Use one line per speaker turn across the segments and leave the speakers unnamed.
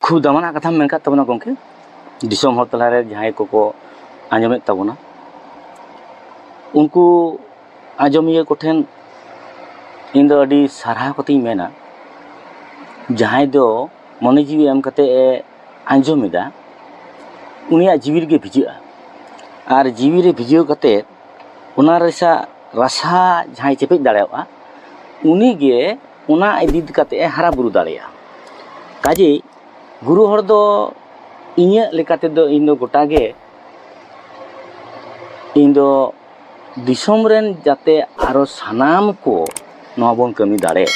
ᱠᱷᱩᱵ ᱫᱟᱢᱟᱱᱟᱜ ᱠᱟᱛᱷᱟᱢ ᱢᱮᱱ ᱠᱟᱜ ᱛᱟᱵᱚᱱᱟ ᱜᱚᱢᱠᱮ ᱫᱤᱥᱚᱢ ᱦᱚᱲ ᱛᱟᱞᱟᱨᱮ ᱡᱟᱦᱟᱸᱭ ᱠᱚᱠᱚ ᱟᱸᱡᱚᱢᱮᱫ ᱛᱟᱵᱚᱱᱟ ᱩᱱᱠᱩ ᱟᱸᱡᱚᱢᱤᱭᱟᱹ ᱠᱚᱴᱷᱮᱱ ᱤᱧ ᱫᱚ ᱟᱹᱰᱤ ᱥᱟᱨᱦᱟᱣ ᱠᱟᱛᱮᱧ ᱢᱮᱱᱟ ᱡᱟᱦᱟᱸᱭ ᱫᱚ ᱢᱚᱱᱮ ᱡᱤᱣᱤ ᱮᱢ ᱠᱟᱛᱮ ᱮ ᱟᱸᱡᱚᱢ ᱮᱫᱟ ᱩᱱᱤᱭᱟᱜ ᱡᱤᱣᱤ ᱨᱮᱜᱮ ᱵᱷᱤᱡᱟᱹᱜᱼᱟ ᱟᱨ ᱡᱤᱣᱤ ᱨᱮ ᱵᱷᱤᱡᱟᱹᱣ ᱠᱟᱛᱮ ᱚᱱᱟ ᱨᱮᱭᱟᱜ ᱨᱟᱥᱟ ᱡᱟᱦᱟᱸᱭ ᱪᱮᱯᱮᱡ ᱫᱟᱲᱮᱭᱟᱜᱼᱟ ᱩᱱᱤᱜᱮ ᱚᱱᱟ ᱤᱫᱤ ᱠᱟᱛᱮᱫ ᱮ ᱦᱟᱨᱟ ᱵᱩᱨᱩ ᱫᱟᱲᱮᱭᱟᱜᱼᱟ ᱠᱟᱡᱮᱭ ᱜᱩᱨᱩ ᱦᱚᱲ ᱫᱚ ᱤᱧᱟᱹᱜ ᱞᱮᱠᱟ ᱛᱮᱫᱚ ᱤᱧ ᱫᱚ ᱜᱚᱴᱟ ᱜᱮ ᱤᱧ ᱫᱚ ᱫᱤᱥᱚᱢ ᱨᱮᱱ ᱡᱟᱛᱮ ᱟᱨᱚ ᱥᱟᱱᱟᱢ ᱠᱚ ᱱᱚᱣᱟ ᱵᱚᱱ ᱠᱟᱹᱢᱤ ᱫᱟᱲᱮᱜ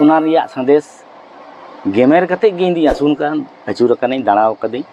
ᱚᱱᱟ ᱨᱮᱭᱟᱜ ᱥᱟᱸᱫᱮᱥ ᱜᱮᱢᱮᱨ ᱠᱟᱛᱮᱫ ᱜᱮ ᱤᱧ ᱫᱩᱧ ᱟᱹᱪᱩᱨ ᱟᱠᱟᱱᱟ ᱟᱹᱪᱩᱨ ᱟᱠᱟᱱᱟᱹᱧ ᱫᱟᱬᱟ ᱟᱠᱟᱫᱟᱹᱧ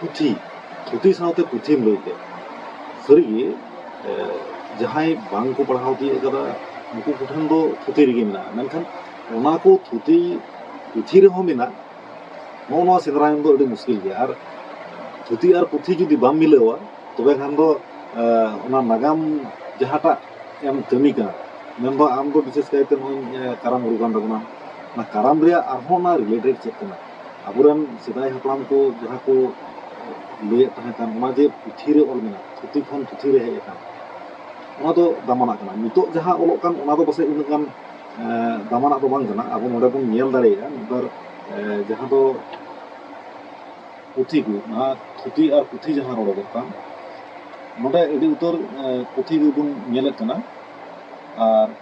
ᱯᱩᱛᱷᱤ ᱛᱷᱩᱛᱤ ᱥᱟᱶᱛᱮ ᱯᱩᱛᱷᱤᱢ ᱞᱟᱹᱭ ᱠᱮᱫ ᱥᱟᱹᱨᱤᱜᱮ ᱡᱟᱦᱟᱸᱭ ᱵᱟᱝ ᱠᱚ ᱯᱟᱲᱦᱟᱣ ᱛᱤᱭᱳᱜ ᱠᱟᱫᱟ ᱩᱱᱠᱩ ᱠᱚᱴᱷᱮᱱ ᱫᱚ ᱛᱷᱩᱛᱤ ᱨᱮᱜᱮ ᱢᱮᱱᱟᱜᱼᱟ ᱢᱮᱱᱠᱷᱟᱱ ᱚᱱᱟ ᱠᱚ ᱛᱷᱩᱛᱤ ᱯᱩᱛᱷᱤ ᱨᱮᱦᱚᱸ ᱢᱮᱱᱟᱜ ᱱᱚᱜᱼᱚ ᱱᱚᱣᱟ ᱥᱮᱸᱫᱽᱨᱟ ᱧᱟᱢ ᱫᱚ ᱟᱹᱰᱤ ᱢᱩᱥᱠᱤᱞ ᱜᱮᱭᱟ ᱟᱨ ᱛᱷᱩᱛᱤ ᱟᱨ ᱯᱩᱛᱷᱤ ᱡᱩᱫᱤ ᱵᱟᱢ ᱢᱤᱞᱟᱹᱣᱟ ᱛᱚᱵᱮ ᱠᱷᱟᱱ ᱫᱚ ᱚᱱᱟ ᱱᱟᱜᱟᱢ ᱡᱟᱦᱟᱸᱴᱟᱜ ᱮᱢ ᱠᱟᱹᱢᱤ ᱠᱟᱱᱟ ᱢᱮᱱᱫᱚ ᱟᱢ ᱫᱚ ᱵᱤᱥᱮᱥ ᱠᱟᱭᱛᱮ ᱱᱚᱜᱼᱚᱭ ᱠᱟᱨᱟᱢ ᱨᱩ ᱠᱟᱱ ᱛᱟᱵᱚᱱᱟᱢ ᱚᱱᱟ ᱠᱟᱨᱟᱢ ᱨᱮᱭᱟᱜ ᱟᱨᱦᱚᱸ ᱚᱱᱟ ᱨᱤᱞᱮᱴᱮᱰ ᱪᱮᱫ ᱠᱟᱱᱟ ᱟᱵᱚᱨᱮᱱ ᱥᱮᱫᱟᱭ ᱦᱟᱯᱲᱟᱢ ᱠᱚ ᱡᱟᱦᱟᱸ ᱠᱚ ᱞᱟᱹᱭᱮᱫ ᱛᱟᱦᱮᱸ ᱠᱟᱱ ᱚᱱᱟ ᱡᱮ ᱯᱩᱛᱷᱤ ᱨᱮ ᱚᱞ ᱢᱮᱱᱟᱜᱼᱟ ᱯᱩᱛᱷᱤ ᱠᱷᱚᱱ ᱯᱩᱛᱷᱤ ᱨᱮ ᱦᱮᱡ ᱟᱠᱟᱱ ᱚᱱᱟ ᱫᱚ ᱫᱟᱢᱟᱱᱟᱜ ᱠᱟᱱᱟ ᱱᱤᱛᱚᱜ ᱡᱟᱦᱟᱸ ᱚᱞᱚᱜ ᱠᱟᱱ ᱚᱱᱟ ᱫᱚ ᱯᱟᱥᱮᱡ ᱩᱱᱟᱹᱜ ᱜᱟᱱ ᱫᱟᱢᱟᱱᱟᱜ ᱫᱚ ᱵᱟᱝ ᱠᱟᱱᱟ ᱟᱵᱚ ᱱᱚᱰᱮ ᱵᱚᱱ ᱧᱮᱞ ᱫᱟᱲᱮᱭᱟᱜᱼᱟ ᱢᱤᱫᱵᱟᱨ ᱡᱟᱦᱟᱸ ᱫᱚ ᱯᱩᱛᱷᱤ ᱠᱚ ᱚᱱᱟ ᱛᱷᱩᱛᱤ ᱟᱨ ᱯᱩᱛᱷᱤ ᱡᱟᱦᱟᱸ ᱨᱚᱲᱚᱜᱚᱜ ᱠᱟᱱ ᱱᱚᱰᱮ ᱟᱹᱰᱤ ᱩᱛᱟᱹᱨ ᱯᱩᱛᱷᱤ ᱜᱮᱵᱚᱱ ᱧᱮᱞᱮᱫ ᱠᱟᱱᱟ ᱟᱨ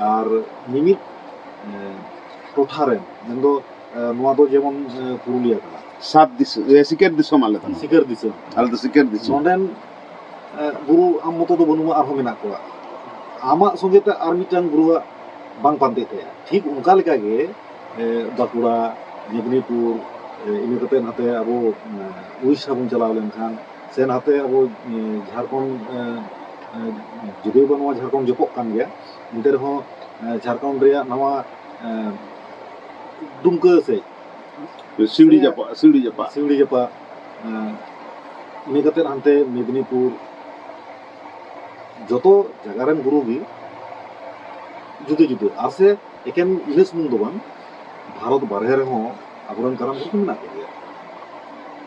ᱟᱨ ᱢᱤᱢᱤᱫ ᱴᱚᱴᱷᱟ ᱨᱮᱱ ᱢᱮᱱ ᱫᱚ ᱱᱚᱣᱟ ᱫᱚ ᱡᱮᱢᱚᱱ ᱯᱩᱨᱩᱞᱤᱭᱟᱹ ᱠᱟᱱᱟ ᱥᱟᱛ ᱫᱤᱥᱚᱢ
ᱥᱤᱠᱟᱹᱨ ᱫᱤᱥᱚᱢ ᱟᱞᱮ ᱫᱚ ᱥᱤᱠᱟᱹᱨ ᱫᱤᱥᱚᱢ ᱟᱞᱮ
ᱫᱚ ᱥᱤᱠᱟᱹᱨ ᱫᱤᱥᱚᱢ
ᱱᱚᱰᱮᱱ
ᱜᱩᱨᱩ ᱟᱢ ᱢᱚᱛᱚ ᱫᱚ ᱵᱟᱹᱱᱩᱜᱼᱟ ᱟᱨᱦᱚᱸ ᱢᱮᱱᱟᱜ ᱠᱚᱣᱟ ᱟᱢᱟᱜ ᱥᱚᱸᱜᱮ ᱛᱮ ᱟᱨ ᱢᱤᱫᱴᱟᱝ ᱜᱩᱨᱩᱣᱟᱜ ᱵᱟᱝ ᱯᱟᱱᱛᱮᱜ ᱛᱟᱭᱟ ᱴᱷᱤᱠ ᱚᱱᱠᱟ ᱞᱮᱠᱟ ᱜᱮ ᱵᱟᱸᱠᱩᱲᱟ ᱢᱮᱫᱽᱱᱤᱯᱩᱨ ᱤᱱᱟᱹ ᱠᱟᱛᱮ ᱱᱟᱛᱮ ᱟᱵᱚ ᱩᱲᱤᱥᱥᱟ ᱵᱚᱱ ᱪᱟᱞᱟᱣ ᱞᱮᱱᱠᱷᱟᱱ ᱥᱮ ᱱᱟᱛᱮ ᱟᱵᱚ ᱡᱷᱟᱲᱠᱷᱚᱸᱰ ᱡᱩᱫᱤ ᱵᱚᱱ ᱱᱚᱣᱟ ᱡᱷᱟᱲᱠᱷᱚᱸᱰ ᱡᱚᱯᱚᱜ ᱠᱟᱱ ᱜᱮᱭᱟ ᱮᱱᱛᱮ ᱨᱮᱦᱚᱸ ᱡᱷᱟᱲᱠᱷᱚᱸᱰ ᱨᱮᱭᱟᱜ ᱱᱟᱣᱟ ᱫᱩᱢᱠᱟᱹ ᱥᱮᱡ ᱥᱤᱣᱲᱤ
ᱡᱟᱯᱟᱜ ᱥᱤᱣᱲᱤ ᱡᱟᱯᱟᱜ ᱥᱤᱣᱲᱤ ᱡᱟᱯᱟᱜ ᱤᱱᱟᱹ ᱠᱟᱛᱮ ᱦᱟᱱᱛᱮ
ᱢᱮᱫᱽᱱᱤᱯᱩᱨ ᱡᱚᱛᱚ ᱡᱟᱭᱜᱟ ᱨᱮᱱ ᱜᱩᱨᱩ ᱜᱮ ᱡᱩᱫᱟᱹ ᱡᱩᱫᱟᱹ ᱟᱨ ᱥᱮ ᱮᱠᱮᱱ ᱤᱱᱟᱹ ᱥᱩᱢᱩᱝ ᱫᱚ ᱵᱟᱝ ᱵᱷᱟᱨᱚᱛ ᱵᱟᱨᱦᱮ ᱨᱮᱦᱚᱸ ᱟᱵᱚᱨᱮᱱ ᱠᱟᱨᱟᱢ ᱠᱚ ᱢᱮᱱᱟᱜ ᱠᱚᱜᱮᱭᱟ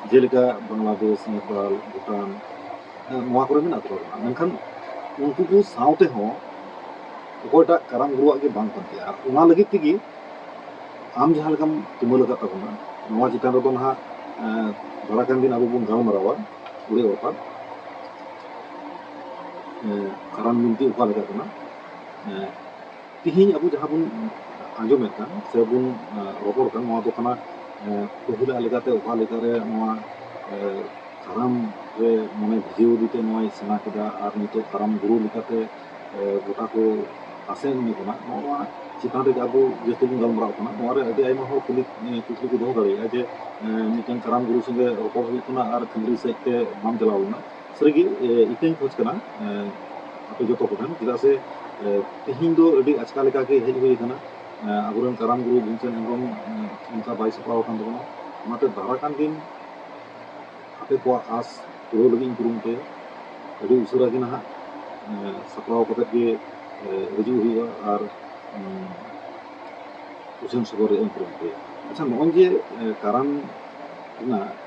ᱡᱮᱞᱮᱠᱟ ᱵᱟᱝᱞᱟᱫᱮᱥ ᱱᱮᱯᱟᱞ ᱵᱷᱩᱴᱟᱱ ᱱᱚᱣᱟ ᱠᱚᱨᱮ ᱢᱮᱱᱟᱜ ᱠᱚᱣᱟ ᱢᱮᱱᱠᱷᱟᱱ ᱩᱱᱠᱩ ᱠᱚ ᱥᱟᱶ ᱛᱮᱦᱚᱸ ᱚᱠᱚᱭᱴᱟᱜ ᱠᱟᱨᱟᱢ ᱜᱩᱨᱩᱣᱟᱜ ᱜᱮ ᱵᱟᱝ ᱠᱟᱱ ᱛᱟᱭᱟ ᱟᱨ ᱚᱱᱟ ᱞᱟᱹᱜᱤᱫ ᱛᱮᱜᱮ ᱟᱢ ᱡᱟᱦᱟᱸ ᱞᱮᱠᱟᱢ ᱛᱩᱢᱟᱹᱞ ᱟᱠᱟᱫ ᱛᱟᱵᱚᱱᱟ ᱱᱚᱣᱟ ᱪᱮᱛᱟᱱ ᱨᱮᱫᱚ ᱱᱟᱦᱟᱜ ᱛᱷᱚᱲᱟ ᱜᱟᱱ ᱫᱤᱱ ᱟᱵᱚ ᱵᱚᱱ ᱜᱟᱞᱢᱟᱨᱟᱣᱟ ᱩᱲᱮ ᱚᱯᱟᱨ ᱠᱟᱨᱟᱢ ᱵᱤᱱᱛᱤ ᱚᱠᱟ ᱞᱮᱠᱟ ᱠᱟᱱᱟ ᱛᱮᱦᱮᱧ ᱟᱵᱚ ᱡᱟᱦᱟᱸ ᱵᱚᱱ ᱟᱸᱡᱚᱢᱮᱫ ᱠᱟᱱ ᱥᱮ ᱵᱚᱱ ᱨᱚᱯᱚᱲ ᱠᱟᱱ ᱱᱚᱣᱟ ᱫᱚ ᱠᱟᱱᱟ ᱯᱟᱹᱦᱤᱞᱟᱜ ᱞᱮᱠᱟᱛᱮ ᱚᱠᱟ ᱞᱮᱠᱟᱨᱮ ᱱᱚᱣᱟ ᱠᱟᱨᱟᱢ ᱨᱮ ᱢᱚᱱᱮ ᱵᱷᱤᱡᱟᱹᱣ ᱤᱫᱤᱛᱮ ᱱᱚᱣᱟᱭ ᱥᱮᱬᱟ ᱠᱮᱫᱟ ᱟᱨ ᱱᱤᱛᱚᱜ ᱠᱟᱨᱟᱢ ᱜᱩᱨᱩ ᱞᱮᱠᱟᱛᱮ ᱜᱚᱴᱟ ᱠᱚ ᱟᱥᱮᱱ ᱮᱢᱮ ᱠᱟᱱᱟ ᱱᱚᱣᱟ ᱪᱮᱛᱟᱱ ᱨᱮᱜᱮ ᱟᱵᱚ ᱡᱟᱹᱥᱛᱤ ᱵᱚᱱ ᱜᱟᱞᱢᱟᱨᱟᱣ ᱠᱟᱱᱟ ᱱᱚᱣᱟ ᱨᱮ ᱟᱹᱰᱤ ᱟᱭᱢᱟ ᱦᱚᱲ ᱠᱩᱞᱤ ᱠᱩᱠᱞᱤ ᱠᱚ ᱫᱚᱦᱚ ᱫᱟᱲᱮᱭᱟᱜᱼᱟ ᱡᱮ ᱢᱤᱫᱴᱟᱝ ᱠᱟᱨᱟᱢ ᱜᱩᱨᱩ ᱥᱚᱸᱜᱮ ᱨᱚᱯᱚᱲ ᱦᱩᱭᱩᱜ ᱠᱟᱱᱟ ᱟᱨ ᱠᱷᱟᱹᱞᱤ ᱥᱮᱫ ᱛᱮ ᱵᱟᱢ ᱪᱟᱞᱟᱣ ᱞᱮᱱᱟ ᱥᱟᱹᱨᱤᱜᱮ ᱤᱠᱟᱹᱧ ᱠᱷᱚᱡᱽ ᱠᱟᱱᱟ ᱟᱯᱮ ᱡᱚᱛᱚ ᱠᱚᱴᱷᱮᱱ ᱪᱮᱫᱟᱜ ᱥᱮ ᱛᱮᱦᱮᱧ ᱫᱚ ᱟᱹᱰᱤ ᱟᱪᱠᱟ ᱞᱮᱠᱟᱜᱮ ᱦᱮᱡ ᱦᱩᱭ ᱟᱠᱟᱱᱟ ᱟᱵᱚᱨᱮᱱ ᱠᱟᱨᱟᱢ ᱜᱩᱨᱩ ᱵᱷᱤᱢᱥᱮᱱ ᱦᱮᱢᱵᱨᱚᱢ ᱚᱱᱠᱟ ᱵᱟᱭ ᱥᱟᱯᱲᱟᱣ ᱟᱠᱟᱱ ᱛᱟᱵᱚᱱᱟ ᱚᱱᱟᱛᱮ ᱫᱟᱨᱟ ᱠᱟᱱ ᱫᱤᱱ ᱟᱯᱮ ᱠᱚᱣᱟᱜ ᱟᱥ ᱯᱩᱨᱟᱹᱣ ᱞᱟᱹᱜᱤᱫ ᱤᱧ ᱠᱩᱨᱩᱢᱩᱴᱩᱭᱟ ᱟᱹᱰᱤ ᱩᱥᱟᱹᱨᱟ ᱜᱮ ᱱᱟᱦᱟᱜ ᱥᱟᱯᱲᱟᱣ ᱠᱟᱛᱮ ᱜᱮ ᱦᱤᱡᱩᱜ ᱦᱩᱭᱩᱜᱼᱟ ᱟᱨ ᱩᱪᱷᱟᱹᱱ ᱥᱚᱫᱚᱨ ᱨᱮᱭᱟᱜ ᱤᱧ ᱠᱩᱨᱩᱢᱩᱴᱩᱭᱟ ᱟᱪᱪᱷᱟ ᱱᱚᱜᱼᱚᱭ ᱡᱮ ᱠᱟᱨᱟᱢ ᱨᱮᱱᱟᱜ